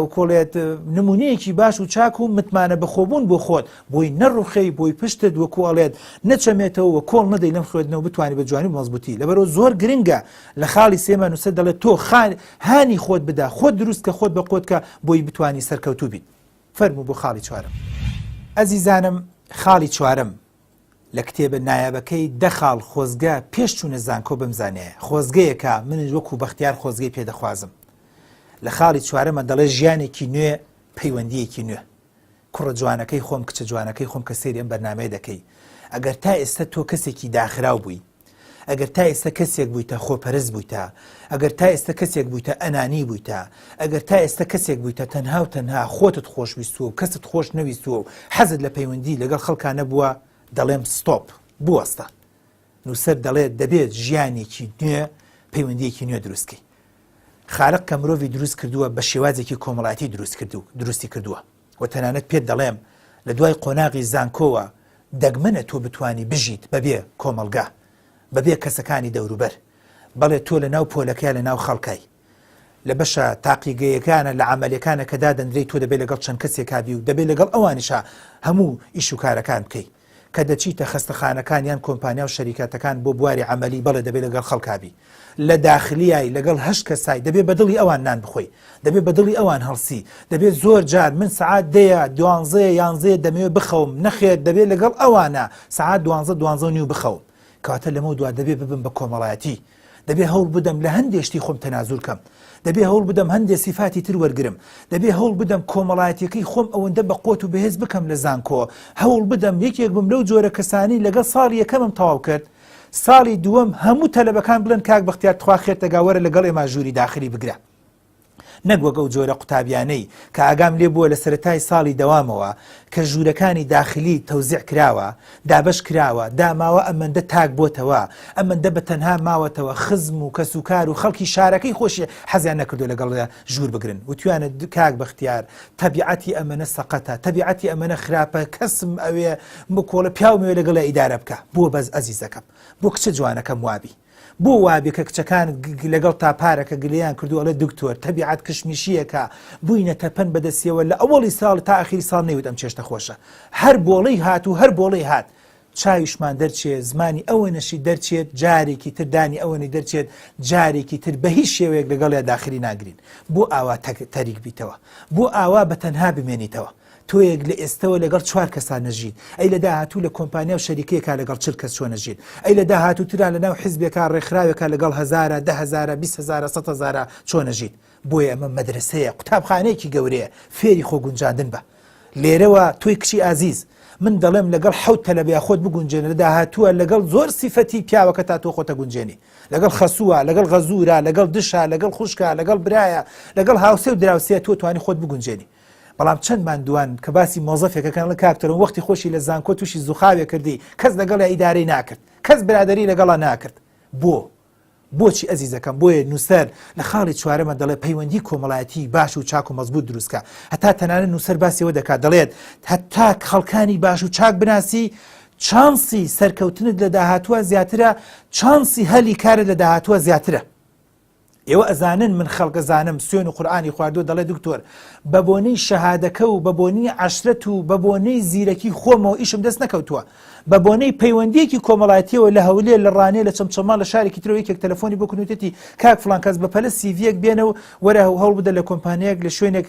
وکۆڵێت نمونەیەکی باش و چاک و متمانە بەخۆبوون بۆ خۆت بۆی نەڕوخەی بۆی پشتت وەکو ئەڵێت نەچەمێتەوە کۆڵ نەدەی لەم خوێندنەوە بتوانانی بە جوانی مەزبوتی لەبەرەوە زۆر گرنگە لە خاڵی سێما نووسەر دەڵێت تۆ خان هانی خۆت بدا خۆت دروست کە خۆت بە قۆتکە بۆی بتانی سەرکەوتوو بیت فەرمو بۆ خاڵی چوارم ئەزیزانم خاڵی چوارم لە کتێبە نایابەکەی دەخاڵ خۆزگە پێش چوونە زانکۆ بمزانێ خۆزگەیەکە منش وەکو بەختیار خۆزگەی پێدەخوازم لە خاڵی چوارەمە دەڵێ ژیانێکی نوێ پەیوەندیەکی نوێ کوڕە جوانەکەی خۆم کچە جوانەکەی خۆم کە سەیری ئەم بەرنامەیە دەکەی ئەگەر تا ئێستا تۆ کەسێکی داخراو بووی ئەگەر تا ئێستا کەسێک بوویتە خۆپەرست بوویتە ئەگەر تا ئێستا کەسێک بوویتە ئەنانی بوویتە ئەگەر تا ئێستا کەسێک بوویتە تەنها و تەنها خۆتت خۆشویستووە و کەست خۆش نەویستووە و حەزت لە پەیوەندی لەگەڵ خەڵکانە بووە دەڵێم ستۆپ بوەستە نووسەر دەڵێت دەبێت ژیانێکی نوێ پەیوەندیەکی نوێ دروستکەی خارق کە مرۆڤی دروست کردووە بە شێوازێکی کۆمەڵاتی دروست کرد و دروستی کردووە و تەنانەت پێت دەڵێم لە دوای قۆناغی زانکۆوە دەگمەنە تۆ بتانی بژیت بەبێ کۆمەلگا بەبێ کەسەکانی دەوروبەر بەڵێ تۆ لە ناو پۆلەکەی لە ناو خەڵکای لە بەشە تاقیگەیەکانە لە عملیەکانە کە دادەندرێی تۆ دەبێت لەگەڵ چەند کەسێکا بی و دەبێت لەگەڵ ئەوانیشا هەموو ئیشوکارەکان بکەی کە دەچیتە خستەخانەکان یان کۆمپانیا و شەریکەتەکان بۆ بواری عملی بەڵێ دەبێت لەگەڵ خەڵکبی لە داخلیایی لەگەڵ هەشت کەسای دەبێت بەدڵی ئەوان نان بخۆی دەبێت بەدڵی ئەوان هەڵسی دەبێت زۆر جار من سعات دەیە دوانزێ یانزێ دەمەوێت بخەوم نەخێر دەبێت لەگەڵ ئەوانە سعات دوانزە دوانزە نیو بخەوم کاتە لەمە دوا دەبێت ببم بە کۆمەڵایەتی دەبێ هەوڵ بدەم لە هەندێ شتی خۆم تەنازول کەم، دەبێ هەوڵ بدەم هەندێ سیفاتی تر وەرگرم، دەبێ هەوڵ بدەم کۆمەڵایەتیەکەی خۆم ئەوەندە بە قۆت و بەهێز بکەم لە زانکۆ هەوڵ بدەم یەکێک بم لەو جۆرە کەسانەی لەگەڵ ساڵی یەکەمم تەواو کرد ساڵی دووەم هەموو تەلەبەکان بڵێن کاک بەختیار تخوا خێرتەگا وەرە لەگەڵ ئێمە ژووری داخلی بگرە. نەک وەک ئەو جۆرە قوتابیانەی کە ئاگام لێ بووە لە سەرەتای ساڵی دەوامەوە کە ژوورەکانی داخلی تەوزیع کراوە، دابەش کراوە، داماوە ئەمەندە تاک بۆتەوە، ئەمەندە بە تەنها ماوەتەوە، خزم و کەسوکار و خەڵکی شارەکەی خۆشی حەزیان نەکردووە لەگەڵ ژوور بگرن، وتویانە کاک بەختیار تەبیعەتی ئەمەنە سەقەتە، تەبیعەتی ئەمەنە خراپە، کەسم ئەوێ بکۆڵێ، پیاوم ئەوێ لەگەڵیا ئیدارە بکا. بۆ بەس ئەزیزەکەم؟ بۆ کچە جوانەکەم وابی؟ بۆ وابێ کە کچەکان لەگەڵ تا پارەکە گلەیان کردو ئەڵێ دکتۆر تەبیعەت کشمیشیەکە بوینە تەپەن بەدەسیەوە لە ئەوەڵی ساڵ تا ئەخیری ساڵ نەیوت ئەم چێشتە خۆشە هەر بۆڵەی هات و هەر بۆڵەی هات چاویشمان دەرچێ زمانی ئەوەنەشی دەرچێت جارێکی تر دانی ئەوەنی دەرچێت جارێکی تر بە هیچ شێوەیەک لەگەڵ یا داخلی ناگرین بۆ ئاوا تەریک بیتەوە بۆ ئاوا بە تەنها بمێنیتەوە تۆیەک لە ئێستەوە لەگەڵ چوار کەسان نەژیت، ئەی لە داهاتوو لە کۆمپانیا و شەریکەیەکا لەگەڵ چل کەس چۆن نەژیت؟ ئەی لە داهاتوو ترا لە ناو حیزبێکا، ڕێکخراوێکا لەگەڵ هەزارە، دە هەزارە، بیست هەزارە، سەد هەزارە چۆن نەژیت؟ بۆیە ئەمە مەدرەسەیە، قوتابخانەیەکی گەورەیە، فێری خۆگونجاندن بە. لێرەوە تۆی کچی ئازیز، من دەڵێم لەگەڵ حەوت تەلەبەیا خۆت بگونجێنە، لە داهاتووا لەگەڵ زۆر سیفەتی پیاوەکەتا تۆ خۆت ئەگونجێنی. لەگەڵ خەسووە، لەگەڵ غەزوورە، لەگەڵ دشە، لەگەڵ خوشکە، لەگەڵ برایە، لەگەڵ هاوسێ و دراوسێ تۆ توانی خۆت بگونجێنی. بەڵام چەندمان دوان کە باسی مۆزەفێکە کەن لە کاکتەرم وەختی خۆشی لە زانکۆ تووشی زوخاوێ کردی کەس لەگەڵ ئیدارەی ناکرد کەس برادری لەگەڵا ناکرد بۆ بۆچی ئەزیزەکەم بۆیە نووسەر لە خاڵی چوارەمە دەڵێ پەیوەندی کۆمەڵایەتی باش و چاک و مەزبوط دروستکە هەتا تەنانە نووسەر باسیەوە دەکات دەڵێت هەتا خەڵکانی باش و چاک بناسی چانسی سەرکەوتنت لە داهاتووە زیاترە چانسی هەلی کارت لە داهاتووە زیاترە ئێوە ئەزانن من خەڵکە زانم سوێن و قورئانی خواردووە دەڵێ دکتۆر بە بۆنەی شەهادەکە و بە بۆنی عەشرەت و بە بۆنەی زیرەکی خۆمەوە ئیشم دەست نەکەوتووە بە بۆنەی پەیوەندیەکی کۆمەڵایەتیەوە لە هەولێر لە ڕانێ لە چەمچەماڵ لە شارێکی ترەوە یەکێک تەلەفۆنی بۆ کردوتێتی کاک فڵان کەس بە پەلە سیڤیەک بێنە و وەرە و هەوڵ بدە لە کۆمپانیەک لە شوێنێک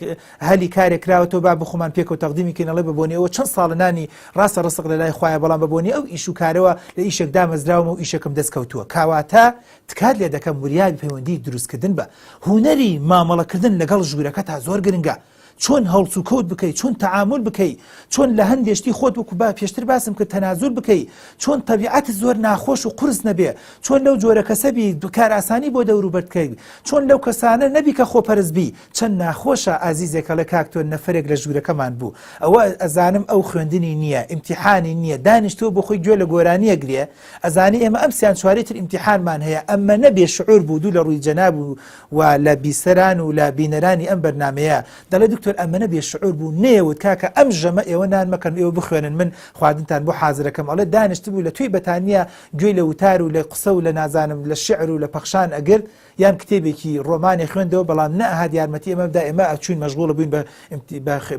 هەلی کارێک کراوەتەوە با بخۆمان پێکە و تەقدیمی کەینەڵێ بە بۆنەوە چەند ساڵنانی ڕاستە ڕسق لە لای خخوایە بەڵام بە بۆنی ئەو ئیش و کارەوە لە ئیشێک دامەزراومە و ئیشەکەم دەست کەوتووە کاواتە تکات لێ دەکەم وریابی پەیوەندی دروست کردن بە هونەری مامەڵە کردن لەگەڵ ژورەکەتا زۆر گرنگە چۆن هەڵسو کەوت بکەی چۆن تەعامول بکەی چۆن لە هەندێ شتی خۆت وەکو با پێشتر باسم کرد تەنازول بکەی چۆن تەبیعەت زۆر ناخۆش و قورس نەبێ چۆن لەو جۆرە کەسە بی بکار ئاسانی بۆ دەوروبەر بکەی چۆن لەو کەسانە نەبی کە خۆپەرست بی چەند ناخۆشە ئازیزێکە لە کاک تۆ نەفەرێک لە ژوورەکەمان بوو ئەوە ئەزانم ئەو خوێندنی نییە ئیمتیحانی نییە دانیشتووە بۆ خۆی گوێ لە گۆرانییەک لێ ئەزانی ئێمە ئەم سیان چوارەی تر ئیمتیحانمان هەیە ئەمەە بێ شعور بوو دوو لە ڕووی جەناب و و لە بیسەران و لە بینەرانی ئەم بەرنمەیە دەڵێ دکتۆر ئەمەە بێ شعور بوو نێوت کاکە ئەم ژەمە ئێوە نان مەکەن ئێوە بخوێنن من خواردنتان بۆ حازرەکەم ئەڵێ دانیشت بوو لە توی بەتانیا گوێی لە وتار و لە قسە و لە نازانم لە شعر و لە پەخشان ئەگرت یان کتێبێکی ڕۆمانی خوێندەوە بەڵام نەهات یارمەتی ئەمە بدا ئێمە ئەچوین مەژغوڵە بووین بە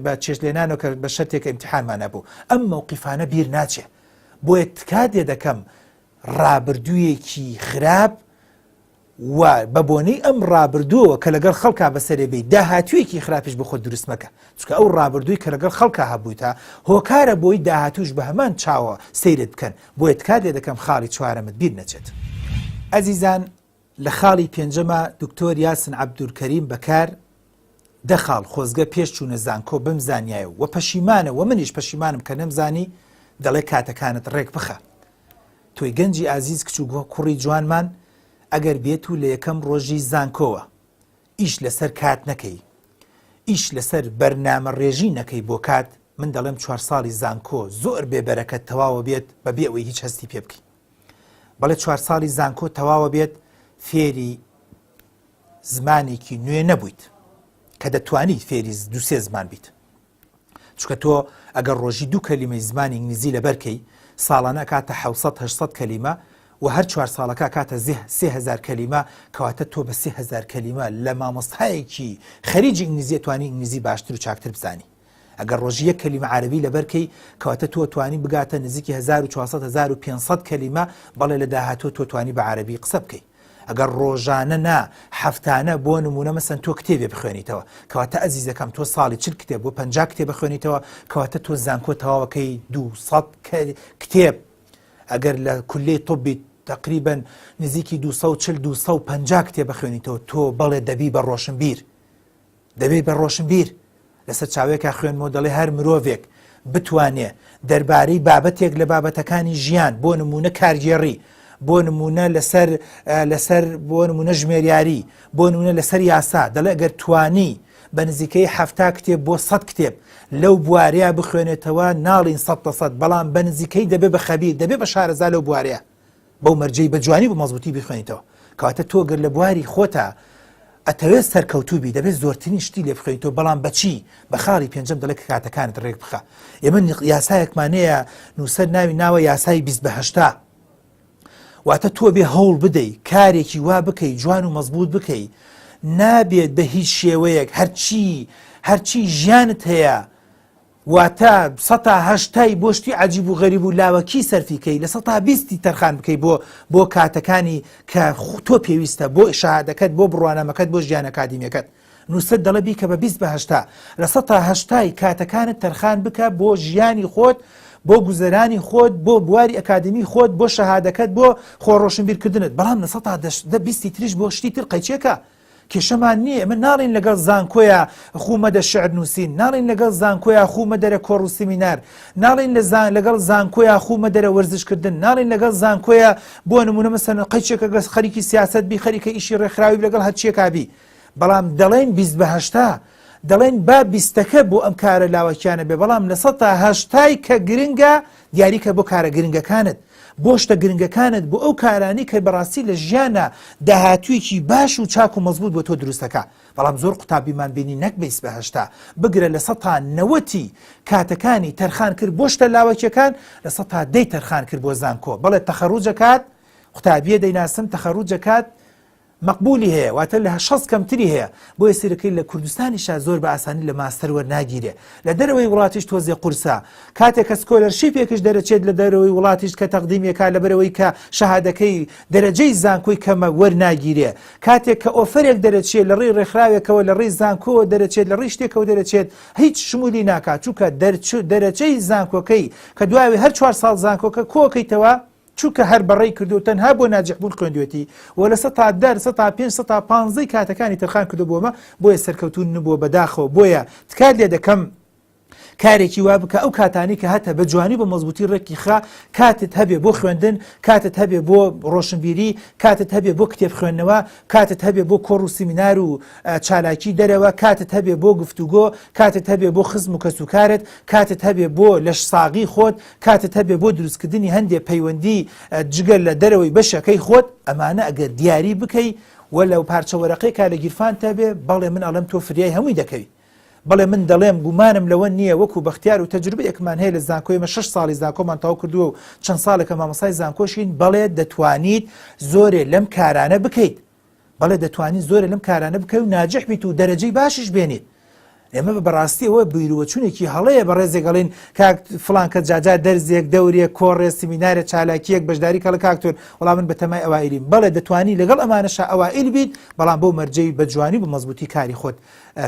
بە چێشلێنانەوە کە بە شەرتێکە ئیمتحانمانە بوو ئەم مەوقیفانە بیر ناچێت بۆیە تکات لێ دەکەم ڕابردوویەکی خراپ و بە بۆنەی ئەم ڕابردووەوە کە لەگەڵ خەڵکا بەسەرێ بێ داهاتوویەکی خراپیش بخۆ دروستمەکە چکە ئەو ڕابردووی کە لەگەڵ خەڵکە هەبوویتە هۆکارە بۆی داهاتوش بە هەمان چاوە سیرت بکەن بۆیە تکات لێ دەکەم خاڵی چوارەمت بیر نەچێت ئەزیزان لە خاڵی پێنجەما دکتۆر یاسن عەبدولکەریم بەکار دە خاڵ خۆزگە پێش چوونە زانکۆ بم زانیایە و وە پەشیمانە وە منیش پەشیمانم کە نەمزانی دەڵێ کاتەکانت ڕێک بخە تۆی گەنجی ئازیز کچ و گووە کوڕی جوانمان ئەگەر بێت و لە یەکەم ڕۆژی زانکۆوە ئیش لەسەر کات نەکەی ئیش لەسەر بەرنامە ڕێژی نەکەی بۆ کات من دەڵێم چوار ساڵی زانکۆ زۆر بێبەرەکە تەواوە بێت بە بێ ئەوەی هیچ هەستی پێ بکەی بەڵێ چوار ساڵی زانکۆ تەواوە بێت فێری زمانێکی نوێ نەبوویت کە دەتوانیت فێری دوسێ زمان بیت چکە تۆ ئەگەر ڕۆژی دوو کەلیمەی زمانی ئینگلیزی لەبەرکەی ساڵانە کاتە 1970 کەلیمە و هەر چوار ساڵەکە کاتە زه سهزار کەلیمە کەواتە تۆ بە سهزار کەلیمە لە مامۆستایەکی خەریجی ئینگلیزیێتوانی ئینگلیزی باشتر و چاکتر بزانی ئەگەر ڕۆژی یەک کەلیمە عارەبی لەبەر کەی کەواتە تۆ توانی بگاتە نزیکی هەزار و چوار سەد هەزار و پێنج سەد کەلیمە بەڵێ لە داهاتوو تۆ توانی بە عارەبی قسە بکەی ئەگەر ڕۆژانە نا هەفتانە بۆ نمونە مەسەن تۆ کتێبێ بخوێنیتەوە کەواتە ئەزیزەکەم تۆ ساڵی چل کتێب بۆ پنج کتێ بخوێنیتەوە کەواتە تۆ زانکۆ تەواوەکەی دو کتێب ئەگەر لە کولی طبی تقریبن نزیکی 240 250 کتێ بخوێنیتەوە تۆ بەڵێ دەبی بە ڕۆشنبیر دەبێ بە ڕۆشنبیر لە سەرچاوێکا خوێنمەوە دەڵێ هەر مرۆڤێک بتوانێ دەربارەی بابەتێک لە بابەتەکانی ژیان بۆ نمونە کارگێڕی بۆ نمونە لەسەر لەسەر بۆ نمونە ژمێریاری بۆ نمونە لەسەر یاسا دەڵێ گەر توانی بە نزیکەی هەفتا کتێب بۆ سەد کتێب لەو بوارەیە بخوێنێتەوە ناڵین سە لە سەد بەڵام بە نزیکەی دەبێ بە خەبی دەبێ بە شارەزا لەو بوارەیە بەو مەرجەی بە جوانی بە مەزبوتی بخوێنیتەوە کەواتە تۆ گەر لە بواری خۆتا ئەتەوێت سەرکەوتوبی دەبێت زۆرترین شتی لێ بخوێنیتەوە بەڵام بەچی بە خاڵی پێنجم دەڵێت کاتەکانت ڕێک بخە ئێمە یاسایەکمانەیە نووسەر ناوی ناوە یاسای 20هشتا واتە تۆ بێ هەوڵ بدەی کارێکی وا بکەی جوان و مەزبوط بکەی نابێت بە هیچ شێوەیەک هەرچی هەرچی ژیانت هەیە واتە سەتا هەشتای بۆ شتی عەجیب و غەریب و لاوەکی سەرفی کەی لە سەتا بیستی تەرخان بکەی بۆ بۆ کاتەکانی کە تۆ پێویستە بۆ شەهادەکەت بۆ بڕوانامەکەت بۆ ژیان ئەکادیمیەکەت نووسەر دەڵێ بیکە بە بیست بە هەشتا لە سەتا هەشتای کاتەکانت تەرخان بکە بۆ ژیانی خۆت بۆ گوزەرانی خۆت بۆ بواری ئەکادمی خۆت بۆ شەهادەکەت بۆ خۆڕۆشنبیرکردنت بەڵام لە سەتا دە بیستی تریش بۆ شتی تر قەیچێکە کێشەمان نیە ئێمە ناڵێین لەگەڵ زانکۆیە خوو مەدە شعر نووسین، ناڵێین لەگەڵ زانکۆیە خوو مەدەرە کۆڕ و سیمینار، ناڵێین لە زان لەگەڵ زانکۆیە خوو مەدەرە وەرزش کردن، ناڵێین لەگەڵ زانکۆیە بۆ نموونە مەسەلەن قەیچێکە گەس خەریکی سیاسەت بی خەریکە ئیشی ڕێکخراوی بی لەگەڵ هەرچیەکا بی بەڵام دەڵێین بیست بە هەشتا دەڵێن با بیستەکە بۆ ئەم کارە لاوەکیانە بێ بەڵام لە سەتا هەشتای کە گرنگە دیاریکە بۆ کارە گرنگەکانت، بۆ شتە گرنگەکانت، بۆ ئەو کارانەی کە بەڕاستی لە ژیاندا داهاتوویەکی باش و چاک و مەزبووت بۆ تۆ دروست دەکا. بەڵام زۆر قوتابیمان بینی نەک بیست بە هەشتا، بگرە لە سەتا نەوەتی کاتەکانی تەرخان کرد بۆ شتە لاوەکییەکان، لە سەتا دەی تەرخان کرد بۆ زانکۆ. بەڵێ تەخەروج ئەکات، قوتابییە دەیناسم تەخەروج ئەکات، مەقبولی هەیە واتە لە شەست کەمتری هەیە بۆیە سیرەکەی لە کوردستانیشا زۆر بە ئاسانی لە ماستەر وەرناگیرێ لە دەرەوەی وڵاتیش تۆزێ قورسە کاتێ کە سکۆلەرشیپێکش دەرەچێت لە دەرەوەی وڵاتیش کە تەقدیمی ئەکا لەبەرئەوەی کە شەهادەکەی دەرەجەی زانکۆی کەمە وەرناگیرێ کاتێک کە ئۆفەرێک دەرەچێ لە ڕێی ڕێکخراوێکەوە لە ڕێی زانکۆوە دەرەچێت لە ڕێی شتێکەوە دەرەچێت هیچ شمولی ناکا چووکە دەرچوو دەرەچەی زانکۆکەی کە دوای هەر چوار ساڵ زانکۆکە کۆکەیتەوە چونکە هەر بەڕێی کردو تەنها بۆ ناجیح بوون خوێندوێتی و لە سەتا دەر سەتا پێنج سەتا پانزەی کاتەکانی تەرخان کردوە بۆمە بۆیە سەرکەوتوو نبووە بەداخەوە بۆیە تکات لێ دەکەم کارێکی وا بکە ئەو کاتانی کە هەتە بە جوانی بە مەزبوتی ڕێکی خا کاتت هەبێ بۆ خوێندن کاتت هەبێ بۆ ڕۆشنبیری کاتت هەبێ بۆ کتێب خوێندنەوە کاتت هەبێ بۆ کۆڕ و سیمینار و چالاکی دەرەوە کاتت هەبێ بۆ گفتوگۆ کاتت هەبێ بۆ خزم و کەسوکارت کاتت هەبێ بۆ لەش ساغی خۆت کاتت هەبێ بۆ دروستکردنی هەندێ پەیوەندی جگە لە دەرەوەی بەشەکەی خۆت ئەمانە ئەگەر دیاری بکەی و لەو پارچە وەرەقەی کا لە گیرفان تەبێ بەڵێ من ئەڵم تۆ فریای هەمووی دەکەوی بەڵێ من دەڵێم گومانم لەوە نییە وەکو بەختیار و تەجروبەیەکمان هەیە لە زانکۆی مە شش ساڵی زانکۆمان تاو کردووە و چەند ساڵێکە مامەسای زانکۆشین بەڵێ دەتوانیت زۆرێ لەم کارانە بکەیت بەڵێ دەتوانیت زۆرێ لەم کارانە بکەی و ناجح بیت و دەرەجەی باشیش بێنیت ئێمە بە بەڕاستی ئەوە بیروەچونێکی هەڵەیە بە ڕێزێگەڵین کاک فلان کە جاجار دەرزێک دەورێک کۆڕێ سمینارە چالاکیەک بەشداری کەڵە کاکتۆر وەڵام من بەتەمای ئەوائیلیم بەڵێ دەتوانی لەگەڵ ئەمانەشا ئەوائیل بیت بەڵام بۆ مەرجەی بە جوانی بە مەزبوتی کاری خۆت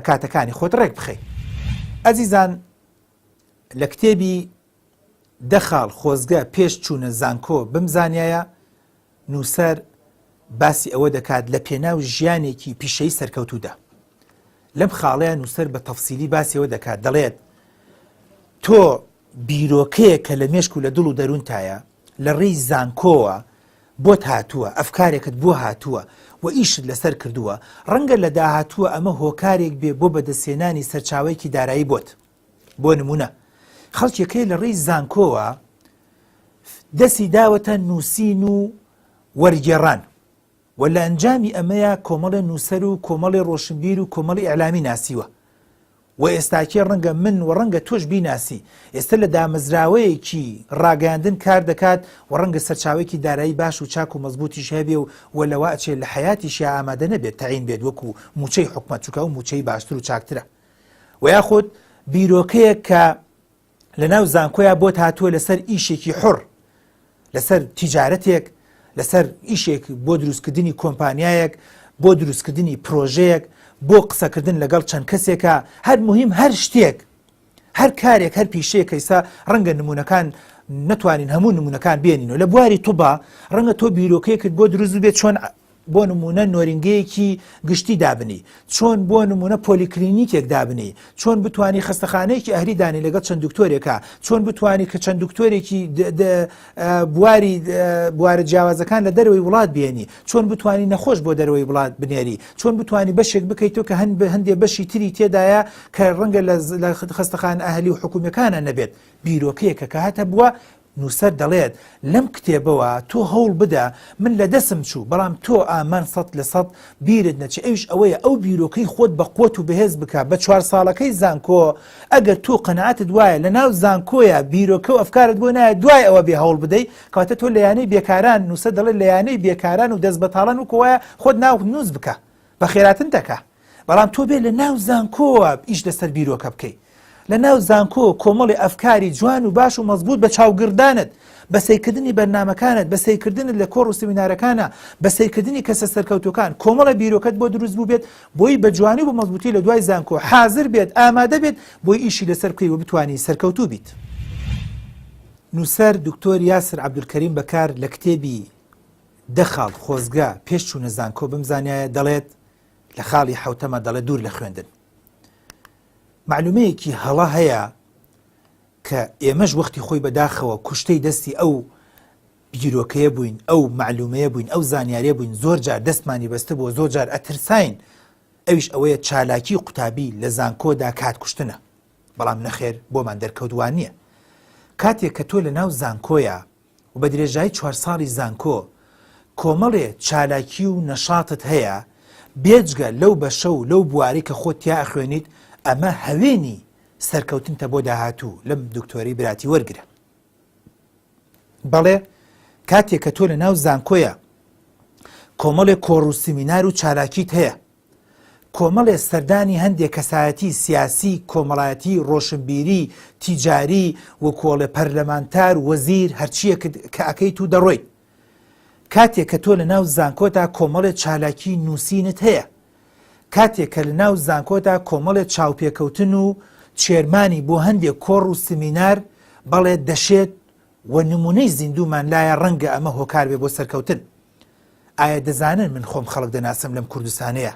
کاتەکانی خۆت ڕێک بخەیت ئەزیزان لە کتێبی دە خاڵ خۆزگە پێش چوونە زانکۆ بمزانیایە نووسەر باسی ئەوە دەکات لە پێناو ژیانێکی پیشەی سەرکەوتوودا لەم خاڵەیە نووسەر بە تەفسیلی باسیەوە دەکات دەڵێت تۆ بیرۆکەیە کە لە مێشک و لە دڵ و دەروونتایە لە ڕێی زانکۆوە بۆت هاتووە، ئەفکارێکت بۆ هاتووە و ئیشت لەسەر کردووە، ڕەنگە لە داهاتووە ئەمە هۆکارێک بێ بۆ بەدەستهێنانی سەرچاوەیەکی دارایی بۆت، بۆ نموونە خەڵکێک هەیە لە ڕێی زانکۆوە دەستی داوەتە نووسین و وەرگێڕان، و لە ئەنجامی ئەمەیا کۆمەڵێ نووسەر و کۆمەڵێ ڕۆشنبیر و کۆمەڵی ئیعلامی ناسیوە و ئێستاکێ ڕەنگە من و ڕەنگە تۆش بیناسی، ئێستە لە دامەزراوەیەکی ڕاگەیاندن کار دەکات و ڕەنگە سەرچاوەیەکی دارایی باش و چاک و مەزبووتیش هەبێ و و لەوە ئەچێ لە حەیاتیشیا ئامادە نەبێت تەعین بێت وەکو مووچەی حکومەت، چونکە ئەو مووچەی باشتر و چاکترە و یاخود بیرۆکەیەک کە لەناو زانکۆیا بۆت هاتووە لەسەر ئیشێکی حڕ لەسەر تیجارەتێک لەسەر ئیشێک بۆ دروستکردنی کۆمپانیایەک بۆ دروستکردنی پرۆژەیەک بۆ قسەکردن لەگەڵ چەند کەسێکە هەر مهم هەر شتێک هەر کارێک هەر پیشەیە کەیسا ڕەنگە نمونونەکان نتوانین هەموو نمونونەکان بێنین و لە بواری توبا ڕەنگە تۆ بیرۆکەیەکت بۆ دروست بێت چۆن بۆ نمونە نۆرینگەیەکی گشتی دابنی چۆن بۆ نمونە پۆلیکلینیکێک دابنی چۆن بتانی خستەخانەیەکی ئەهری دانی لەگەڵ چەند دکتۆرێکە چۆن بتانی کە چەند دکتۆرێکی بواری بوارە جیاوازەکان لە دەروی وڵات بێنی چۆن بتانی نەخۆش بۆ دەروی وڵات بنێری چۆن بتانی بەشێک بکەیتەوە کە هەند بە هەندێ بەشی تری تێدایە کە ڕەنگە لە خستەخان ئەهلی و حکوومەکانە نەبێت بیرۆکەیەکە کە هاتە بووە نووسەر دەڵێت، لەم کتێبەوە تۆ هەوڵ بدە، من لە دەسم چوو، بەڵام تۆ ئامان سەد لە سەد بیرت نەچێ، ئەویش ئەوەیە ئەو بیرۆکەی خۆت بە قوت و بەهێز بکە، بە چوار ساڵەکەی زانکۆ ئەگەر تۆ قەناعەتت وایە لە ناو زانکۆیە بیرۆکە و ئەفکارت بۆ نایە دوای ئەوە بێ هەوڵ بدەی کەواتە تۆ لە یانەی بێکاران نووسەر دەڵێت لە یانەی بێکاران و دەست بەتاڵان وکوایە خۆت ناوت نووس بکە بە خێراتنتەکە. بەڵام تۆ بێ لە ناو زانکۆوە ئیش لەسەر بیرۆکە بکەیت لە ناو زانکۆ کۆمەڵی ئەفکاری جوان و باش و مەزبوط بە چاوگردانت بە سیرکردنی بەرنمەکانت بە سیرکردنت لە کۆڕ و سمینارەکانە بە سیرکردنی کەسە سەرکەوتەکان کۆمەڵە بیرۆکەت بۆ دروست بوو بێت بۆی بە جوانی و بە مەزبوطی لە دوای زانکۆ حاضر بێت ئامادە بێت بۆی ئیشی لەسەر بکەی و بتانی سەرکەوتوو بیت. نووسەر دکتۆر یاسر عبدولکەریم بەکار لە کتێبی دە خاڵ خۆزگە پێش چوونە زانکۆ بمزانایە دەڵێت لە خاڵی حوتەمە دەڵێ دوور لە خوێندن معلومەیەکی هەڵە هەیە کە ئێمەش وەختی خۆی بەداخەوە کوشتەی دەستی ئەو بیرۆکەیە بووین ئەو معلومەیە بووین ئەو زانیارە بووین زۆر جار دەستمانی بەستە بۆ زۆر جار ئەترساین ئەویش ئەوەیە چالاکی قوتابی لە زانکۆدا کات کوشتنە بەڵام نەخێر بۆمان دەرکەوتوان نییە کاتێک کە تۆ لە ناو زانکۆیە و بە درێژایی چوار ساڵی زانکۆ کۆمەڵێ چالاکی و نەشاتت هەیە بێجگە لەو بەشە و لەو بوارەی کە خۆت تیا ئەخوێنیت ئەمە هەوێنی سەرکەوتنتە بۆ داهاتوو لەم دکتۆری براتی وەرگرە بەڵێ کاتێک کە تۆ لە ناو زانکۆیە کۆمەڵێک کۆڕ و سمینار و چالاکیت هەیە کۆمەڵێ سەردانی هەندێ کەسایەتی سیاسی، کۆمەڵایەتی، ڕۆشنبیری، تیجاری و کۆڵێ پەرلەمانتار، وەزیر، هەرچییەکت کە ئەکەیت و دەڕۆیت. کاتێ کە تۆ لە ناو زانکۆتا کۆمەڵێ چالاکی نووسینت هەیە. کاتێ کە لە ناو زانکۆتا کۆمەڵێ چاوپێکەوتن و چێرمانی بۆ هەندێ کۆڕ و سمینار بەڵێ دەشێت و نمونەی زیندوومان لایە ڕەنگە ئەمە هۆکار بێ بۆ سەرکەوتن ئایا دەزانن من خۆم خەڵک دەناسم لەم کوردستانەیە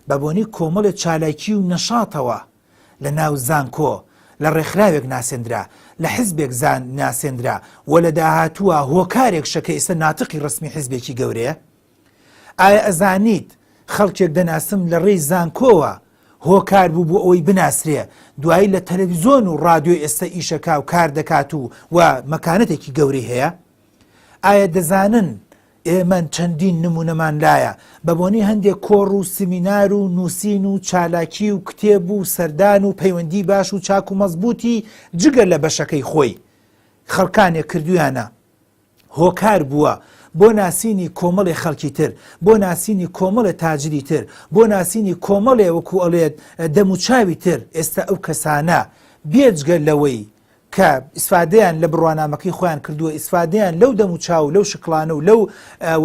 بە بۆنەی کۆمەڵێ چالاکی و نەشاتەوە لە ناو زانکۆ لە ڕێکخراوێک ناسێندرا لە حزبێک زان ناسێندرا و لە داهاتووە هۆکارێک شەکە ئێستا ناتقی ڕسمی حزبێکی گەورەیە ئایا ئەزانیت خەڵکێک دەناسم لە ڕێی زانکۆوە هۆکار بوو بۆ ئەوەی بناسرێ دوایی لە تەلەڤیزۆن و ڕادیۆی ئێستا ئیشەکا و کار دەکات و و مەکانەتێکی گەورەی هەیە ئایا دەزانن ئێمە چەندین نمونەمان لایە بە بۆنی هەندێک کۆڕ و سمینار و نووسین و چالاکی و کتێب و سەردان و پەیوەندی باش و چاک و مەزبوتی جگە لە بەشەکەی خۆی خەڵکانێک کردویانە هۆکار بووە بۆ ناسینی کۆمەڵێ خەڵکی تر، بۆ ناسینی کۆمەڵێ تاجری تر، بۆ ناسینی کۆمەڵێ وەکوو ئەڵێێت دەموچاوی تر، ئێستا ئەو کەسانە بێجگە لەوەی کە ئیسفادەیان لە بڕوانامەکەی خۆیان کردووە ئیسفادەیان لەو دەموچاو و لەو شکڵانە و لەو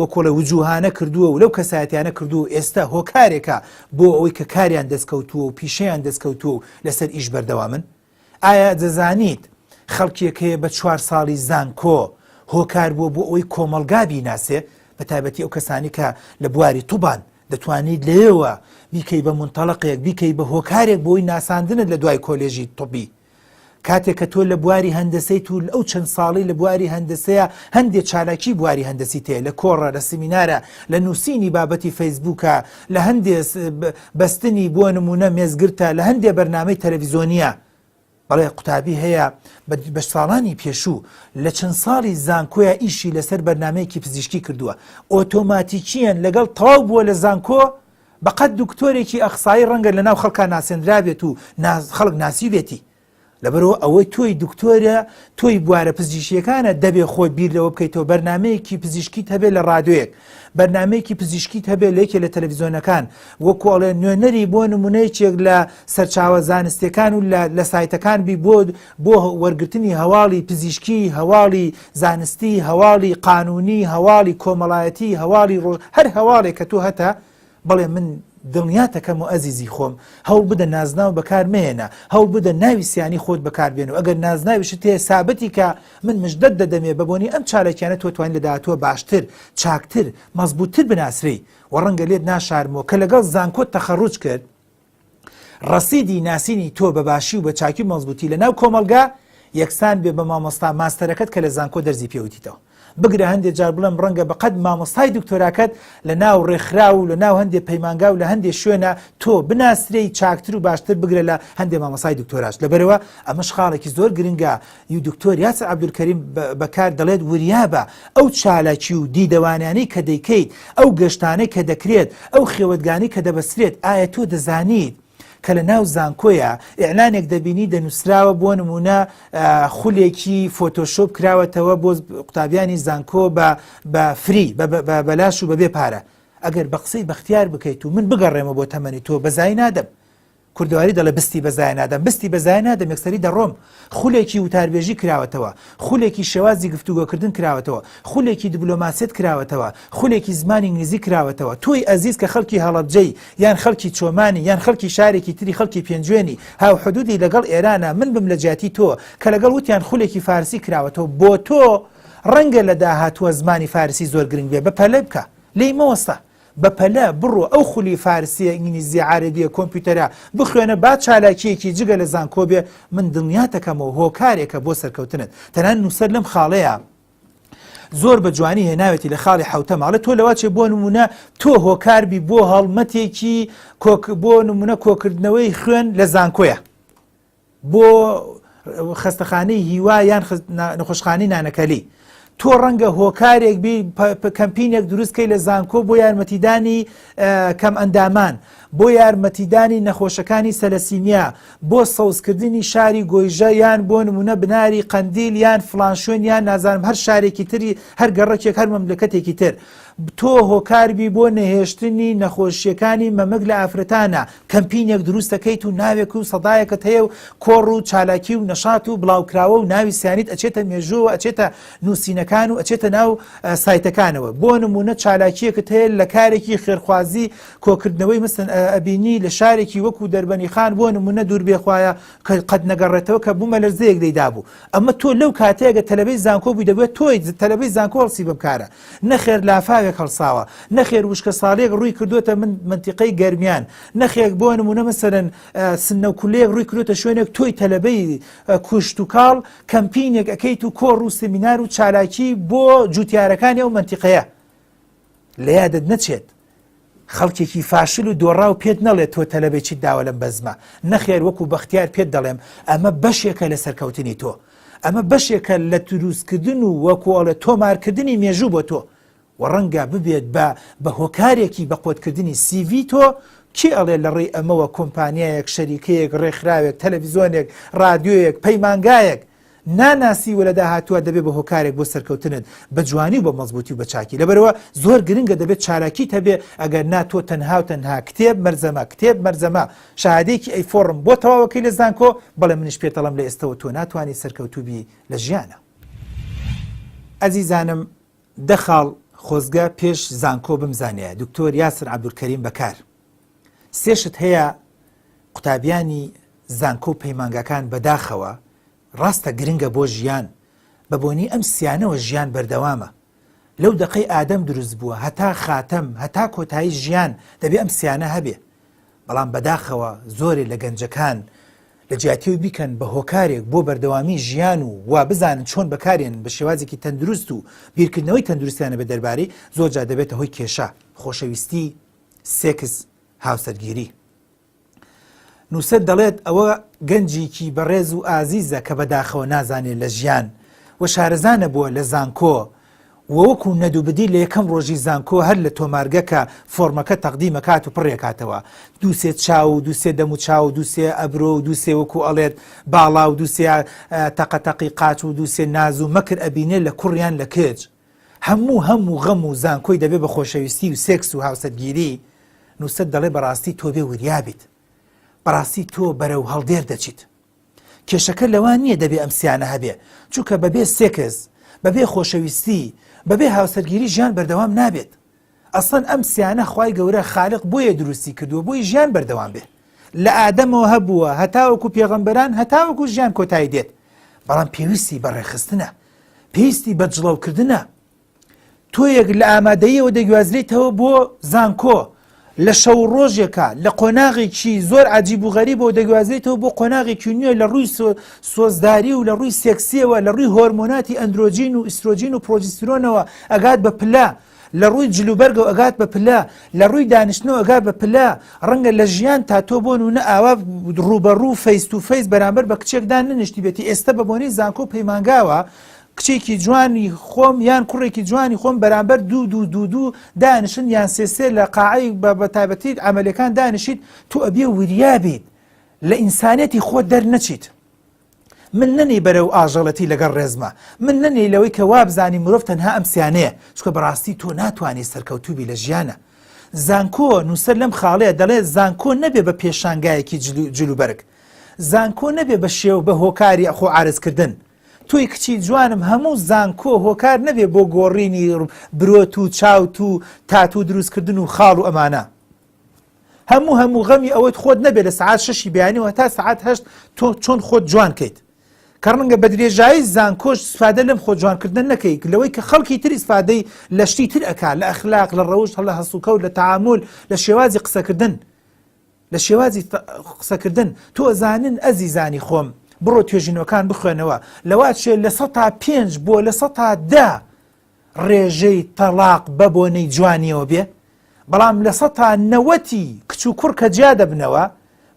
وەکۆڵە وجووهانە کردووە و لەو کەسایەتیانە کردووە و ئێستا هۆکارێکە بۆ ئەوەی کە کاریان دەستکەوتووە و پیشەیان دەستکەوتووە و لەسەر ئیش بەردەوامن ئایا دەزانیت خەڵکێک هەیە بە چوار ساڵی زانکۆ هۆکار بووە بۆ ئەوەی کۆمەڵگا بیناسێ بە تایبەتی ئەو کەسانی کە لە بواری توبان دەتوانیت لەیەوە بیکەی بە منتەڵقێک بیکەی بە هۆکارێک بۆی ناساندنت لە دوای کۆلێژی طبی کاتێک کە تۆ لە بواری هەندەسەی تو ئەو چەند ساڵی لە بواری هەندەسەیە هەندێک چالاکی بواری هەندەسی تێ لە کۆڕە لە سمینارە لە نووسینی بابەتی فەیسبووکە لە هەندێ بەستنی بۆ نموونە مێزگرتە لە هەندێ بەرنامەی تەلەڤیزۆنیە بەڵێ قوتابی هەیە بە ساڵانی پێشوو لە چەند ساڵی زانکۆیە ئیشی لەسەر بەرنمەیەکی پزیشکی کردووە ئۆتۆماتیکیەن لەگەڵ تەواو بووە لە زانکۆ بەقەت دکتۆرێکی ئەخسایی ڕەنگە لە ناو خەڵکان ناسێنرابێت و خەڵک ناسیبێتی لەبەرو ئەوەی تۆی دکتۆرە تۆی بوارە پزیشیەکانە دەبێ خۆی بیر لەوە بکەیتەوە بەرنمەیەکی پزیشکیت هەبێ لە ڕادوێک بەرنمەیەکی پزیشکیت هەبێ لە یەکێ لە تەلەڤزیۆنەکان وەکۆڵێ نوێنەری بۆ نمونەیەکێک لە سەرچاوە زانستەکان و لە سایتەکان بی بۆ بۆ وەرگرتنی هەواڵی پزیشکی هەواڵی زانستی هەواڵی قانونی هەواڵی کۆمەڵایەتی هەواڵی ڕۆژ هەر هەواڵێک کە تۆ هەتە بەڵێ من دڵنیاتەکەم و ئەزیزی خۆم، هەوڵ بدە نازناو بەکار مەهێنە، هەوڵ بدە ناوی سیانی خۆت بەکار بێنە و ئەگەر نازناویشت هەیە سابتی کە، من مژدەت دەدەمێ بە بۆنەی ئەم چالاکیانە تۆ توانی لە داهاتووە باشتر، چاکتر، مەزبووتتر بناسرێی و ڕەنگە لێت ناشارمەوە کە لەگەڵ زانکۆت تەخەڕوج کرد، ڕەسیدی ناسینی تۆ بە باشی و بە چاکی و مەزبووتی لە ناو کۆمەڵگا یەکسان بێ بە مامۆستا ماستەرەکەت کە لە زانکۆ دەرزی پێوتیتەوە بگرە هەندێ جار بڵێم ڕەنگە بە قەد مامۆستای دکتۆراکەت لە ناو ڕێکخراو و لە ناو هەندێ پەیمانگا و لە هەندێ شوێنە تۆ بناسرێی چاکتر و باشتر بگرە لە هەندێ مامۆسای دکتۆراش لەبەرەوە ئەمەش خاڵێکی زۆر گرنگە ی دکتۆر یاسر عەبدولکەریم بەکار دەڵێت وریابە ئەو چالاکی و دیدەوانانەی کە دەیکەیت ئەو گەشتانەی کە دەکرێت ئەو خێوەتگانەی کە دەبەسترێت ئایا تۆ دەزانیت کە لە ناو زانکۆیە ئیعلانێک دەبینی دەنووسراوە بۆ نمونە خولێکی فۆتۆشۆپ کراوەتەوە بۆ قوتابیانی زانکۆ بە فری بەلاش و بەبێ پارە ئەگەر بە قسەی بەختیار بکەیت و من بگەڕێمە بۆ تەمەنی تۆ بەزای نادەم کوردەواری دەڵێ بستی بە زایە نادەم بستی بە زایە نادەم یەکسەری دەڕۆم خولێکی وتاربێژی کراوەتەوە خولێکی شێوازی گفتوگۆکردن کراوەتەوە خولێکی دبلۆماسیەت کراوەتەوە خولێکی زمانی ئینگلیزی کراوەتەوە تۆی ئەزیز کە خەڵکی هەڵەبجەی یان خەڵکی چۆمانی یان خەڵکی شارێکی تری خەڵکی پێنجوێنی هاوحدودی لەگەڵ ئێرانە من بم لە جیاتی تۆ کە لەگەڵ وتیان خولێکی فارسی کراوەتەوە بۆ تۆ ڕەنگە لە داهاتووە زمانی فارسی زۆر گرنگ بێ بە پەلە بکە لێی مەوەستە بەپەلە بڕۆ ئەو خولی فارسیە ئینگلیزیە عارەبیە کۆمپیوتەرە بخوێنە با چالاکیەکی جگە لە زانکۆ بێ من دڵنیاتەکەمەوە هۆکارێکە بۆ سەرکەوتنت تەنان نوسەر لەم خاڵەیە زۆر بە جوانی هێناوێتی لە خاڵی حوتە ماڵێت تۆ لەواچێ بۆ نمونە تۆ هۆکاربی بۆ هەڵمەتێکی کۆک بۆ نمونە کۆکردنەوەی خوێن لە زانکۆیە بۆ خەستەخانەی هیوا یان نەخۆشخانی نانەکەلی تۆ ڕەنگە هۆکارێک کەمپینێک دروستکەی لە زانکۆ بۆ یارمەتیدانی کەم ئەندامان بۆ یارمەتیدانی نەخۆشەکانی سەلەسیمیا بۆ سەوزکردنی شاری گۆیژە یان بۆ نمونە بناری قەندیل یان فلانشوێن یان نازانم هەر شارێکی تری هەر گەڕەکێک هەر مەملەکەتێکی تر تۆ هۆکاربی بۆ نەهێشتنی نەخۆشیەکانی مەمک لە ئافرەتانا کەمپینێک دروستەکەیت و ناوێک و سەدایەکەت هەیە و کۆڕ و چالاکی و نەشات و بڵاوکراوە و ناوی سیانیت ئەچێتە مێژوەوە ئەچێتە نووسینەکان و ئەچێتە ناو سایتەکانەوە بۆ نمونە چالاکیەکەت هەیە لە کارێکی خێرخوازی کۆکردنەوەی مستن ئەبینی لە شارێکی وەکو دەربەنی خان بۆ نمونە دوور بێخوایە کە قەت نەگەڕێتەوە کە بوومە لەرزەیەک دەیدابوو ئەمە تۆ لەو کاتەیەگە تەلەبەی زانکۆ بووی دەبێت تۆی تەلەبەی زانکۆڵسی بەم کارە نەخێر لافاوێک هەڵساوە، نەخێر وشکەساڵییەک ڕووی کردووەتە من مەنتیقەی گەرمیان، نەخێک بۆ نموونە مەسەلەن سنە و کولەیەک ڕووی کردووەتە شوێنێک تۆی تەلەبەی کوشتوکاڵ کەمپینێک ئەکەیت و کۆڕ و سمینار و چالاکی بۆ جووتیارەکانی ئەو مەنتیقەیە لە یادت نەچێت. خەڵکێکی فاشل و دۆڕاو پێت نەڵێت تۆ تەلەبەی چیت داوە لەم بەزمە، نەخێر وەکو بەختیار پێت دەڵێم ئەمە بەشێکە لە سەرکەوتنی تۆ، ئەمە بەشێکە لە دروستکردن و وەکو ئەڵێ تۆمارکردنی مێژوو بۆ تۆ و ڕەنگە ببێت بە بە هۆکارێکی بەقۆتکردنی سیڤی تۆ، کێ ئەڵێ لە ڕێی ئەمەوە کۆمپانیایەک، شەریکەیەک، ڕێکخراوێک، تەلەڤیزۆنێک، ڕادیۆیەک، پەیمانگایەک، ناناسی و لە داهاتووا دەبێ بە هۆکارێک بۆ سەرکەوتنت بە جوانی و بە مەزبووتی و بە چاکی لەبەرئەوە زۆر گرنگە دەبێت چالاکیت هەبێ ئەگەر نا تۆ تەنها و تەنها کتێب مەرزەمە کتێب مەرزەمە شەهادەیەکی ئەی فۆڕم بۆ تەواوەکەی لە زانکۆ بەڵێ منیش پێت ئەڵێم لە ئێستەوە تۆ ناتوانی سەرکەوتوو بی لە ژیانا. ئەزیزانم دە خاڵ خۆزگە پێش زانکۆ بمزانیایە دکتۆر یاسر عبدالکریم بەکار سێ شت هەیە قوتابیانی زانکۆ و پەیمانگاکان بەداخەوە ڕاستە گرنگە بۆ ژیان بە بۆنی ئەم سیانەوە ژیان بەردەوامە لەو دەقەی ئادەم دروست بووە هەتا خاتەم هەتا کۆتایی ژیان دەبێ ئەم سیانە هەبێ بەڵام بەداخەوە زۆرێ لە گەنجەکان لە جیاتیەوە بیکەن بە هۆکارێک بۆ بەردەوامی ژیان و وا بزانن چۆن بەکارێن بە شێوازێکی تەندروست و بیرکردنەوەی تەندروستیانە بە دەربارەی زۆرجار دەبێتە هۆی کێشە خۆشەویستی سێکس هاوسەرگیری نووسەر دەڵێت ئەوە گەنجیکی بەڕێز و ئازیزە کە بەداخەوە نازانێت لە ژیان و شارەزانە بووە لە زانکۆ وەکو نەدوبدی لە یەکەم ڕۆژی زانکۆ هەر لە تۆمارگەکە فۆرمەکە تەقدیمەکات و پڕێکاتەوە دووسێ چاو و دووسێ دەم و چاو و دووسێ ئەبرۆ و دووسێ وەکو ئەڵێت باڵا و دووسێ تەقەتەقی قاچ و دووسێ ناز و مەکر ئەبینێ لە کوڕیان لە کچ هەموو هەم و غەم و زانکۆی دەبێ بە خۆشەویستی و سێکس و هاوسەرگیری، نووسەر دەڵێ بەڕاستی تۆ بێ وریا بیت، بەڕاستی تۆ بەرەو هەڵدێر دەچیت. کێشەکە لەوە نییە دەبێ ئەم سیانە هەبێ، چونکە بەبێ سێکس، بەبێ خۆشەویستی، بەبێ هاوسەرگیری ژیان بەردەوام نابێت. ئەسڵەن ئەم سیانە خوای گەورە خالق بۆیە دروستی کردووە بۆی ژیان بەردەوام بێ لە ئادەمەوە هەبووە هەتاوەکو پێغەمبەران هەتاوەکو ژیان کۆتایی دێت بەڵام پێویستی بە ڕێخستنە پێویستی بە جڵەوکردنە تۆیەک لە ئامادەیەوە دەگوازرێتەوە بۆ زانکۆ لە شەو ڕۆژێکە لە قۆناغێکی زۆر عجیب و غەری بۆ دەگوازێتەوە بۆ قۆناغێکی نوێ لە ڕووی سۆزداری و لە ڕووی سێکسیەوە لە ڕووی هۆرمۆناتی ئەندرۆجین و ئیسرۆجین و پرۆجیسترۆنەوە ئەگات بە پلە لە ڕووی جل و بەرگەوە ئەگات بە پلە، لە ڕووی دانیشتنەوە ئەگات بە پلە، ڕەنگە لە ژیانتا تۆ بۆ نونە ئاوا ڕووبەڕوو فەیس تو فەیس بەرامبەر بە کچێک داننیشتیبێتی ئێستە بە بۆنەی زانکۆ و پەیمانگاوە کچێکی جوانی خۆم یان کوڕێکی جوانی خۆم بەرامبەر دوو دوو دوو دوو دانیشن یان سێ سێ لە قاعەی بە بە تایبەتی عەمەلەکان دانیشیت تو ئەبێ وریا بیت لە ئینسانیەتی خۆت دەرنەچیت من نەنی بەرەو ئاژەڵەتی لەگەڵ ڕێزما من نەنی لەوەی کە وابزانی مرۆڤ تەنها ئەم سیانەیە چکە بەڕاستی تۆ ناتوانانی سەرکەوتوبی لە ژیانە زانکۆ نووسەر لەم خاڵەیە دەڵێ زانکۆ نەبێ بە پێشانگایەکی جلوبەرگ زانکۆ نەبێ بە شێو بە هۆکاری ئەخۆ عرزکردن تۆی کچی جوانم هەموو زانکۆ هۆکار نەبێ بۆ گۆڕینی برۆت و چاوت و تاتو دروستکردن و خاڵ و ئەمانە هەموو هەموو غەمی ئەوەیت خۆت نەبێت لە سەعات شەشی بەیانیەوە هەتا سەعات هەشت تۆ چۆن خۆت جوان کەیت کە ڕەنگە بە درێژایی زانکۆش سفادە لەم خۆ جوانکردن نەکەیت لەوەی کە خەڵکی تری سفادەی لە شتی تر ئەک لە ئەخلاق لە ڕەوشت هەڵە هەسوکە و لە تعامل لە شێوازی قسەکردن لە شێوازی قسەکردن تۆ زانن ئەزیزانی خۆم بڕۆ توێژینەوەکان بخوێنەوە لەوە چێ لە سە تا پێنج بۆ لە سە تا دە ڕێژەی تەڵاق بە بۆنەی جوانیەوە بێ بەڵام لە سەتا نەوەتی کچ و کوڕ کە جیا دەبنەوە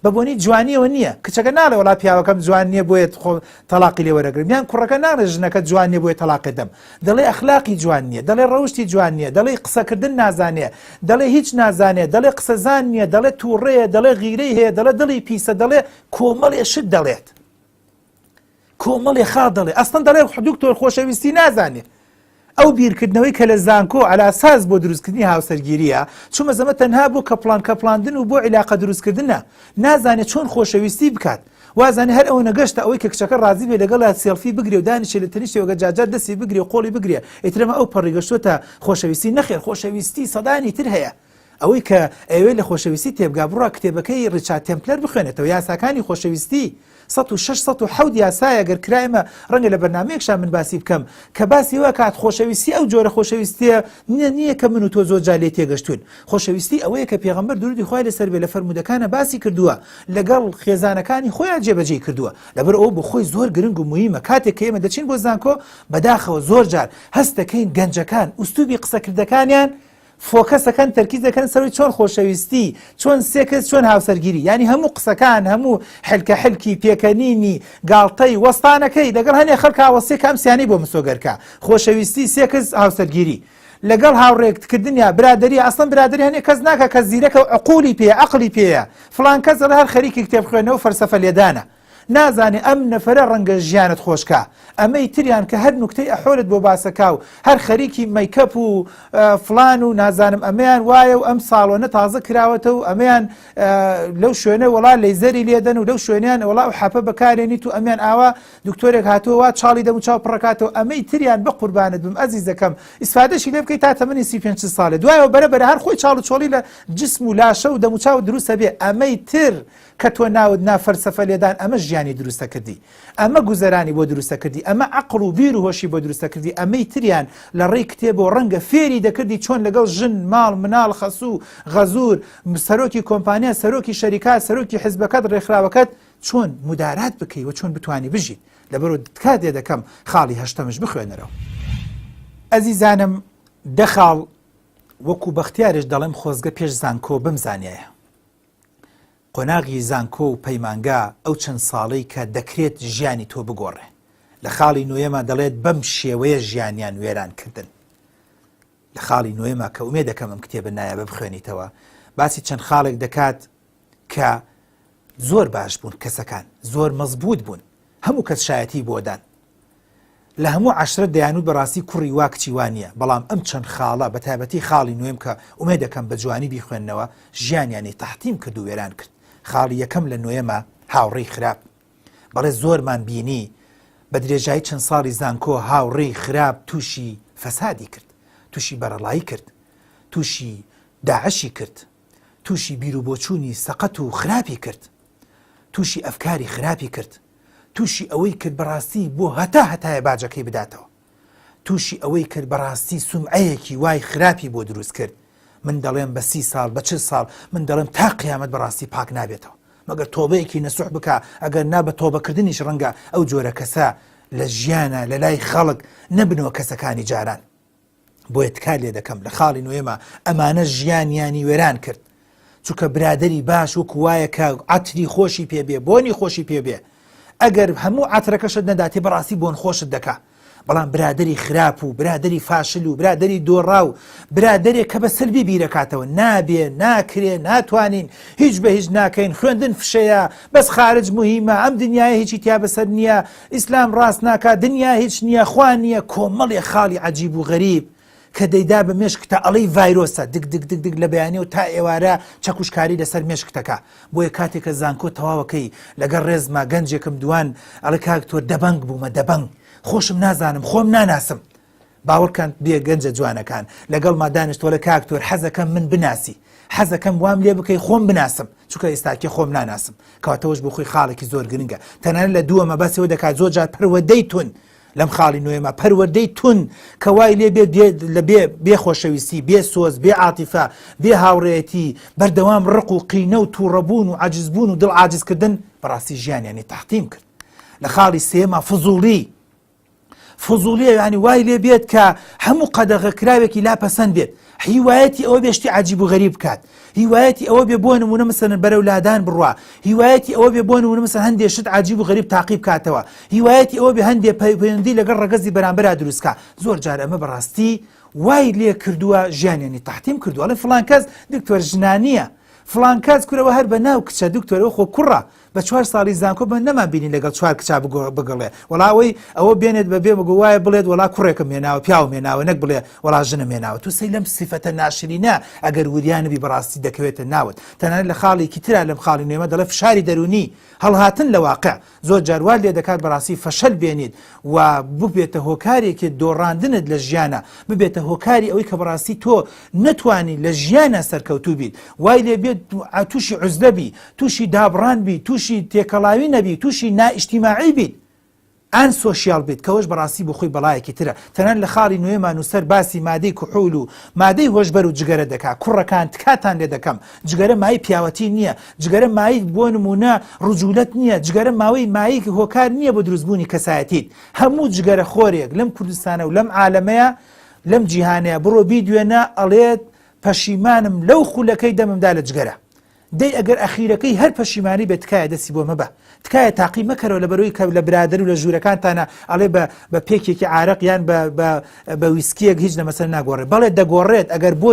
بە بۆنی جوانیەوە نییە کچەکە ناڵێ وڵا پیاوەکەم جوان نییە بۆیێت خۆ تەلاقی لێ وەرەگرم یان کوڕەکە ناڵێ ژنەکە جوان نیە بۆیە تەلاقێ دەم دەڵێ ئەخلاقی جوان نییە دەڵێ ڕەوشی جوان نییە دەڵێ قسەکردن نازانێ دەڵێ هیچ نازانێت دەڵێ قسەزان نییە دەڵێ تووڕەیە دەڵێ غیرەی هەیە دەڵێ دڵی پیسە دەڵێ کۆمەڵێ شت دەڵێت کۆمەڵێ خاڵ دەڵێ ئەسڵەن دەڵێ دکتۆر خۆشەویستی نازانێ ئەو بیرکردنەوەی کە لە زانکۆ ئەلاساس بۆ دروستکردنی هاوسەرگیریە چمە زەمە تەنها بۆ کەپڵان کەپڵاندن و بۆ عیلاقە دروستکردنە نازانێت چۆن خۆشەویستی بکات وازانە هەر ئەوە نەگەشتە ئەوەی کە کچەکە ڕازی بێ لەگەڵ سێلفی بگرێ و دانیشێ لە تەنیشتێوەگە جاجار دەستی بگرێ و قۆڵی بگرێ ئیترەمە ئەو پەڕیگەشتوتە خۆشەویستی نەخێر خۆشەویستی سەدانی تر هەیە ئەوەی کە ئەیەوێت لە خۆشەویستی تێبگا بڕوا کتێبەکەی ڕیچارد تێمپلەر بخوێنێتەوە یاساکانی خۆشەویستی سەد و شەش سەد و حەوت یاسایە گەر کرا ئێمە ڕەنگە لە بەرنامەیەکشا من باسی بکەم کە باسی ئەوە کات خۆشەویستی ئەو جۆرە خۆشەویستیە نییە نییە کە من و تۆ زۆر جار لێ تێگەشتوین خۆشەویستی ئەوەیە کە پێغەمبەر درودی خوای لەسەر بێ لە فەرموودەکانە باسی کردووە لەگەڵ خێزانەکانی خۆیان جێبەجێی کردووە لەبەر ئەو بۆ خۆی زۆر گرنگ و مهمە کاتێک کە ئێمە دەچین بۆ زانکۆ بەداخەوە زۆر جار هەست دەکەین گەنجەکان ئوستوبی قسەکردەکانیان فۆکەس دەکەن تەرکیز دەکەن سەروی چۆن خۆشەویستی چۆن سێکس چۆن هاوسەرگیری ینی هەموو قسەکان هەموو حلکە حلکی پێکەنینی گاڵتەی وەستانەکەی دەگەڵ هەنێ خەڵکا وەسیە کە ئەم سیانی بۆ مسۆگەرکە خۆشەویستی سێکس هاوسەرگیری لەگەڵ هاوڕێکت کردنیا برادری ئەسڵم برادری هەنێ کەس ناکە کە زیرەکە و عقولی پێ عقلی پێە فلان کەس دەڵێ هەر خەریکی کتێب خوێنەوە فەلسەفە لێدانە نازانێ ئەم نەفەرە ڕەنگە ژیانت خۆشکا ئەمەی تریان کە هەر نوکتەی ئەحۆلت بۆ باسەکا و هەر خەریکی مەیکەپ و فلان و نازانم ئەمەیان وایە و ئەم ساڵۆنە تازە کراوەتە و ئەمەیان لەو شوێنە وڵا لەیزەری لێدەن و لەو شوێنیان وڵا و حەپە بەکارێنیت و ئەمیان ئاوا دکتۆرێک هاتووە چاڵی دەم و چاو پڕکاتەوە ئەمەی تریان بە قوربانت بم ئەزیزەکەم ئیسفادەشی لێ بکەیت تا تەمەنی سی پێ ساڵێ دوایەوە بەرە بەرە هەر خۆی چاڵ و چۆڵی لە جسم و لاشە و دەموچاو دروستە بێ ئەمەی تر کە تۆ ناوت نا فەلسەفە لێدان ئەمە ژیانی دروستە کردی ئەمە گوزەرانی بۆ دروستە کردی ئەمە عەقڵ و بیر و هۆشی بۆ دروستە کردی ئەمەی تریان لە ڕێی کتێبەوە ڕەنگە فێری دەکردی چۆن لەگەڵ ژن ماڵ مناڵ خەسوو غەزوور سەرۆکی کۆمپانیا سەرۆکی شەریکات سەرۆکی حزبەکەت ڕێکخراوەکەت چۆن مدارات بکەی و چۆن بتانی بژیت لەبەرو تکات لێ دەکەم خاڵی هەشتەمش بخوێنەرەوە ئەزیزانم دە خاڵ وەکو بەختیارش دەڵێم خۆزگە پێش زانکۆ بمزانیایە. قۆناغی زانکۆ و پەیمانگا ئەو چەند ساڵەی کە دەکرێت ژیانی تۆ بگۆڕێ. لە خاڵی نۆیەما دەڵێت بەم شێوەیە ژیانیان وێران کردن. لە خاڵی نۆیەما کە ئومێ دەکەم ئەم کتێبە نایابە بخوێنیتەوە باسی چەند خاڵێک دەکات کە زۆر باش بوون کەسەکان زۆر مەزبوط بوون هەموو کەس شایەتی بۆ دان لە هەموو عەشرەت دەیانوت بەڕاستی کوڕی وا کچی وا نییە بەڵام ئەم چەند خاڵە بە تایبەتی خاڵی نۆێم کە ئومێد دەکەم بە جوانی بیخوێننەوە ژیانیانی تەحتیم کرد و وێران کرد خاڵی یەکەم لە نۆێمە هاوڕێی خراپ بەڵێ زۆرمان بینی بە درێژایی چەند ساڵی زانکۆ هاوڕێی خراپ تووشی فەسادی کرد تووشی بەرەڵایی کرد تووشی داعشی کرد تووشی بیروبۆچوونی سەقەت و خراپی کرد، تووشی ئەفکاری خراپی کرد، تووشی ئەوەی کرد بەڕاستی بۆ هەتا هەتایە باجەکەی بداتەوە، تووشی ئەوەی کرد بەڕاستی سومعەیەکی وای خراپی بۆ دروست کرد، من دەڵێم بە سی ساڵ بە چل ساڵ من دەڵێم تا قیامەت بەڕاستی پاک نابێتەوە مەگەر تۆبەیەکی نەسوح بکا ئەگەر نا بە تۆبەکردنیش ڕەنگە ئەو جۆرە کەسە لە ژیانە لە لای خەڵک نەبنەوە کەسەکانی جاران. بۆیە تکا لێ دەکەم لە خاڵی نوێمە ئەمانە ژیانیانی وێران کرد چونکە برادری باش وەک وایە کە عتری خۆشی پێبێ بۆنی خۆشی پێبێ ئەگەر هەموو عترەکەشت نەداتی بەڕاستی بۆن خۆشت دەکا بەڵام برادری خراپ و برادری فاشل و برادری دۆڕا و برادێک کە بە سەلبی بیرەکاتەوە نابێ ناکرێ ناتوانین هیچ بە هیچ ناکەین خوێندن فشەیە بەس خارج مهمە ئەم دنیاە هیچی تیا بەسەر نییە ئیسلام ڕاست ناکا دنیا هیچ نیە خوا نیە کۆمەڵێ خاڵی عەجیب و غەریب کە دەیدا بە مێشکتا ئەڵێی ڤایرۆسە دگ دگ دگ دگ لە بەیانیەوە تا ئێوارە چەکوشکاری لەسەر مێشکتەکا بۆیە کاتێ کە زانکۆ تەواوەکەی لەگەڵ ڕێزما گەنجێکم دوان ئەڵێ کاک تۆ دەبەنگ بوومە دەبەنگ خۆشم نازانم خۆم ناناسم باوەڕکەن بێ گەنجە جوانەکان لەگەڵما دانیشت وەلە کاک تۆر حەزەکەم من بناسی حەزەکەم وام لێ بکەی خۆم بناسم چکە ئێستاکێ خۆم ناناسم کاتەوەش بۆ خۆی خاڵێکی زۆر گرنگە تەنان لە دووە مەبەسەوە دەکات زۆر جار پەروەدەی تون لەم خاڵی نوێمە پەروەدەی تون کە وای لێ بێ لە بێ بێ خۆشەویستی بێ سۆز بێ عاتیفە بێ هاوڕێتی بەردەوام ڕق و قینە و تووڕەبوون و عجزبوون و دڵ عجزکردن بەڕاستی ژیانیانی تاقیم کرد لە خاڵی سێمە فزوڵی فزوڵیە یانی وای لێ بێت کە هەموو قەدەغە کراوێکی لا پەسەند بێت هیوایەتی ئەوە بێشتی عجیب و غەریب بکات هیوایەتی ئەوە بێ بۆ نمونە مسەن بەرەو لادان بڕە هیوایەتی ئەوە بێ بۆ نمونە مسە هەندێ شت عجیب و غەریب تاقیب کاتەوە هیوایەتی ئەوە بێ هەندێ پەیوەندی لەگەڵ ڕگەزی بەرامبرا دروستکە زۆر جار ئەمە بەڕاستی وای لێ کردووە ژیانیانی تحتیم کردووە لە فلان کەس دکتۆر ژنانە فلان کەس کورەوە هەر بە ناو کچە دکتۆرەوە خۆ کوڕە بە چوار ساڵی زانکۆ من نەمان بینی لەگەڵ چوار کچا بگەڵێ وەڵا ئەوەی ئەوە بێنێت بە بێ بگو وایە بڵێت وەڵا کوڕێکم مێناوە پیاو مێناوە نەک بڵێ وەڵا ژنە مێناوە تو سەی لەم سیفەتە ناشرینە ئەگەر وریانبی بەڕاستی دەکەوێتە ناوت تەنانەت لە خاڵێکی تررا لەم خاڵی نوێمە دەڵێ فشاری دەرونی هەڵهاتن لە واقع زۆر جاروار لێ دەکات بەڕاستی فەشەل بێنیت و ببێتە هۆکارێکی دۆڕاندنت لە ژیانە ببێتە هۆکاری ئەوەی کە بەڕاستی تۆ نەتوانی لە ژیانە سەرکەوتوبیت وای لێ بێت تووشی عزلەبی توشی دابڕان بیت توشی تێکەڵاوی نەبی توشی نائیشتیماعی بیت ئان سۆشیال بیت کەەوەش بەڕاستی بۆ خۆی بەڵایەکی ترە تەنان لە خاڵی نوێمان و سەر باسی مادەی کوحول و مادەی هۆشبەر و جگەرە دەکا کوڕەکان تکاتان لێ دەکەم جگەرە مای پیاوەتی نییە جگەرە مایک بۆ نمونە ڕجولەت نییە جگەرە ماوەی مایک هۆکار نییە بۆ دروستبوونی کەسایەتیت هەموو جگەرە خۆرێک لەم کوردستانە و لەم عالەمەیە لەم جیهانەیە بڕۆ بی دوێنە ئەڵێت پەشیمانم لەو خولەکەی دەممدا لە جگەرە دەی ئەگەر ئەخیرەکەی هەر پەشیمانی بێت تکایە دەسی بۆ مەبە تکایە تاقی مەکەرەوە لەبەرەوەی کە لە برادەر و لە ژوورەکانتانە ئەڵێ بە بە پێکێکی عارەق یان بە بە بە ویسکیەک هیچ لە مەسەر ناگۆڕێ بەڵێ دەگۆڕێت ئەگەر بۆ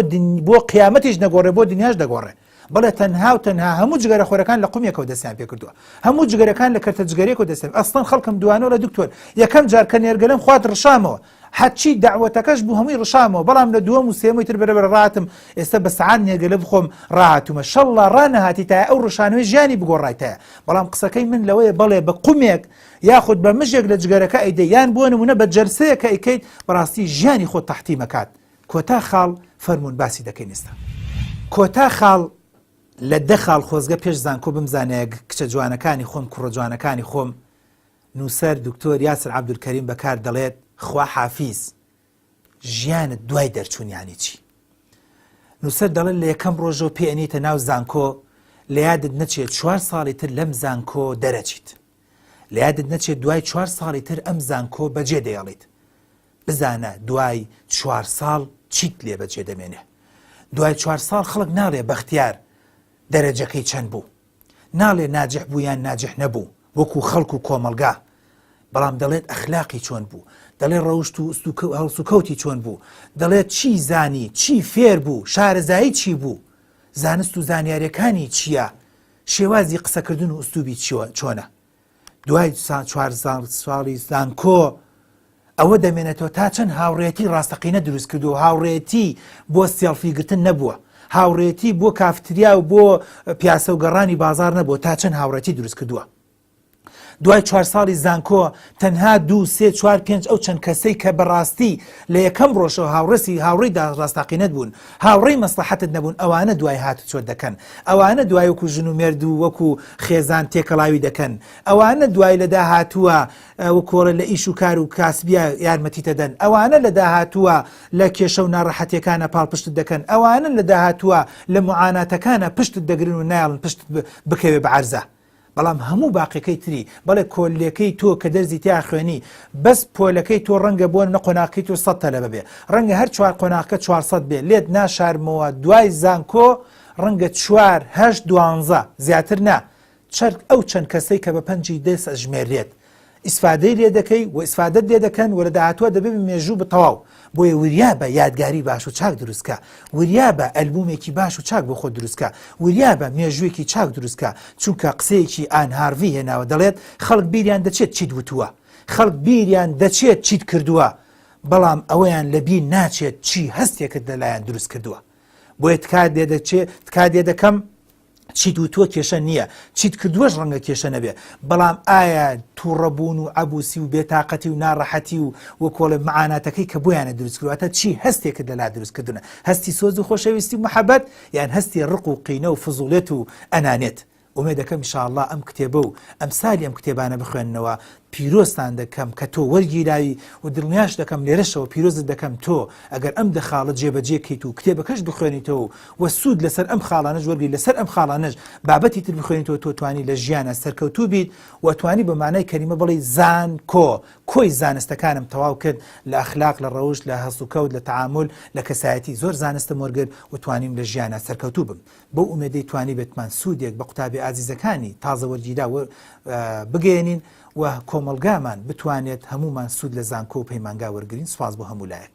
بۆ قیامەتیش نەگۆڕێ بۆ دنیاش دەگۆڕێ بەڵێ تەنها و تەنها هەموو جگەرە خۆرەکان لە قومیەکەەوە دەستیان پێ کردووە هەموو جگەرەکان لە کەرتە جگەرێکەوە دەستێن ئەستان خەڵکم دوانەوە لە دکتۆر یەکەم جار کە نێرگەلم خوارد ڕشامەوە هەرچی دەعوەتەکەش بوو هەمووی ڕشامەوە بەڵام لە دووەم و سێەمەوەی تر بەرەبەرە ڕاتم ئێستا بە سەعات نێرگەلە بخۆم ڕاهاتوومە شەڵڵا ڕانەهاتیتایە ئەو ڕشانەوەی ژیانی بگۆڕایتایە بەڵام قسەکەی من لەوەیە بەڵێ بە قومێک یاخود بە مژێک لە جگەرەکە ئەیدەی یان بۆ نمونە بە جەلسەیە کە ئەیکەیت بەڕاستی ژیانی خۆت تەحتیم ئەکات کۆتا خاڵ فەرموون باسی دەکەین ئێستا کۆتا خاڵ لە دە خاڵ خۆزگە پێش زانکۆ بمزانایە کچە جوانەکانی خۆم کوڕە جوانەکانی خۆم نووسەر دکتۆر یاسر عەبدولکەریم بەکار دەڵێت، خوا حافیز، ژیانت دوای دەرچوون یانی چی؟ نووسەر دەڵێت لە یەکەم ڕۆژەوە پێ ئەنیتە ناو زانکۆ لە یادت نەچێت چوار ساڵی تر لەم زانکۆ دەرەچیت لە یادت نەچێت دوای چوار ساڵی تر ئەم زانکۆ بەجێ دەیەڵیت بزانە دوای چوار ساڵ چیت لێ بەجێ دەمێنێ دوای چوار ساڵ خەڵک ناڵێ بەختیار دەرەجەکەی چەند بوو ناڵێ ناجح بوو یان ناجح نەبوو وەکو خەڵک و کۆمەلگا بەڵام دەڵێت ئەخلاقی چۆن بوو دەڵێ ڕەوشت و هەڵسوکەوتی چۆن بوو دەڵێت چی زانی چی فێر بوو شارەزایی چی بوو زانست و زانیارەکانی چییە شێوازی قسەکردن و ئوستوبی چۆنە دوای چوار ساڵی زانکۆ ئەوە دەمێنێتەوە تا چەند هاوڕێتی ڕاستەقینە دروست کردو و هاوڕێتی بۆ سێڵفی گرتن نەبووە هاوڕێتی بۆ کافتریا و بۆ پیاسە و گەڕانی بازار نەبووە تا چەند هاوڕێتی دروست کردووە دوای چوار ساڵی زانکۆ تەنها دوو سێ چوار پێنج ئەو چەند کەسەی کە بەڕاستی لە یەکەم ڕۆژەوە هاوڕێسی هاوڕێدا ڕاستاقینەت بوون هاوڕێی مەسڵەحەتت نەبوون ئەوانە دوای هاتوچۆت دەکەن ئەوانە دوای وەکو ژن و مێرد و وەکو خێزان تێکەڵاوی دەکەن ئەوانە دوای لە داهاتووە و کۆڵێ لە ئیش و کار و کاسبیا یارمەتیت دەدەن ئەوانە لە داهاتووە لە کێشە و ناڕەحەتیەکانە پاڵپشتت دەکەن ئەوانە لە داهاتووە لە موعاناتەکانە پشتت دەگرن و نایەڵن پشتت بکەوێ بە عەرزا بەڵام هەموو باقیەکەی تری، بەڵێ کۆللێکەی تۆ کە دەرزی تێ ئاخوێنی، بەس پۆلەکەی تۆ ڕەنگە بۆ نمونە قۆناغەکەی تۆ سەد تەلەبە بێ، ڕەنگە هەر چوار قۆناغەکە چوار سەد بێ، لێت ناشارمەوە دوای زانکۆ ڕەنگە چوار، هەشت، دوانزە، زیاتر نا، چەرت ئەو چەند کەسەی کە بە پەنجی دەست ئەژمێررێت، ئیسفادەی لێ دەکەی و ئیسفادەت لێ دەکەن و لە داهاتووە دەبێ بە مێژوو بە تەواو بۆیە وریا بە یادگاری باش و چاک دروست کە وریا بە ئەلبومێکی باش و چاک بۆ خۆ دروست کە وریا بە مێژوویەکی چاک دروست کە چونکە قسەیەکی ئان هارڤی هێناوە دەڵێت خەڵک بیریان دەچێت چیت وتووە خەڵک بیریان دەچێت چیت کردووە بەڵام ئەوەیان لە بیر ناچێت چی هەستێکت لەلایەن دروست کردووە بۆیە تکات لێ دەچێت تکات لێ دەکەم چیت وتووە کێشە نییە چیت کردووەش ڕەنگە کێشە نەبێ بەڵام ئایا تووڕەبوون و عبوسی و بێتاقەتی و ناڕەحەتی و وەکۆڵێ معاناتەکەی کە بۆیانە دروستکرواتە چی هەستێکت لەلا دروستکردنە هەستی سۆز و خۆشەویستی محەبەت یان هەستی ڕق و قینە و فزوڵێت و ئەنانێت ئومێ دەکەم شاءله ئەم کتێبە و ئەم سالی ئەم کتێبانە بخوێنەوە پیرۆزتان دەکەم کە تۆ وەرگیراوی و دڵنیاش دەکەم لێرەشەوە پیرۆزت دەکەم تۆ ئەگەر ئەم دە خاڵە جێبەجێ کەیت و کتێبەکەش بخوێنیتەوە و سوود لەسەر ئەم خاڵانەش وەرگری لەسەر ئەم خاڵانەش بابەتی تر بخوێنیتەوە تۆ توانی لە ژیانا سەرکەوتوو بیت و توانی بە مانای کەلیمە بڵێی زانکۆ کۆی زانستەکانم تەواو کرد لە ئەخلاق لە ڕەوشت لە هەڵسوکەوت لە تەعامول لە کەسایەتی زۆر زانستم وەرگرت و توانیم لە ژیانا سەرکەوتوو بم بەو ئومێدەی توانیبێتمان سوودێک بە قوتابیە ئازیزەکانی تازە وەرگیراو بگەیەنین و کۆمەڵگامان بتوانێت هەموومان سوود لە زانکۆ و پەیمانگا وەرگرین سوپاس بۆ هەموو لایەک.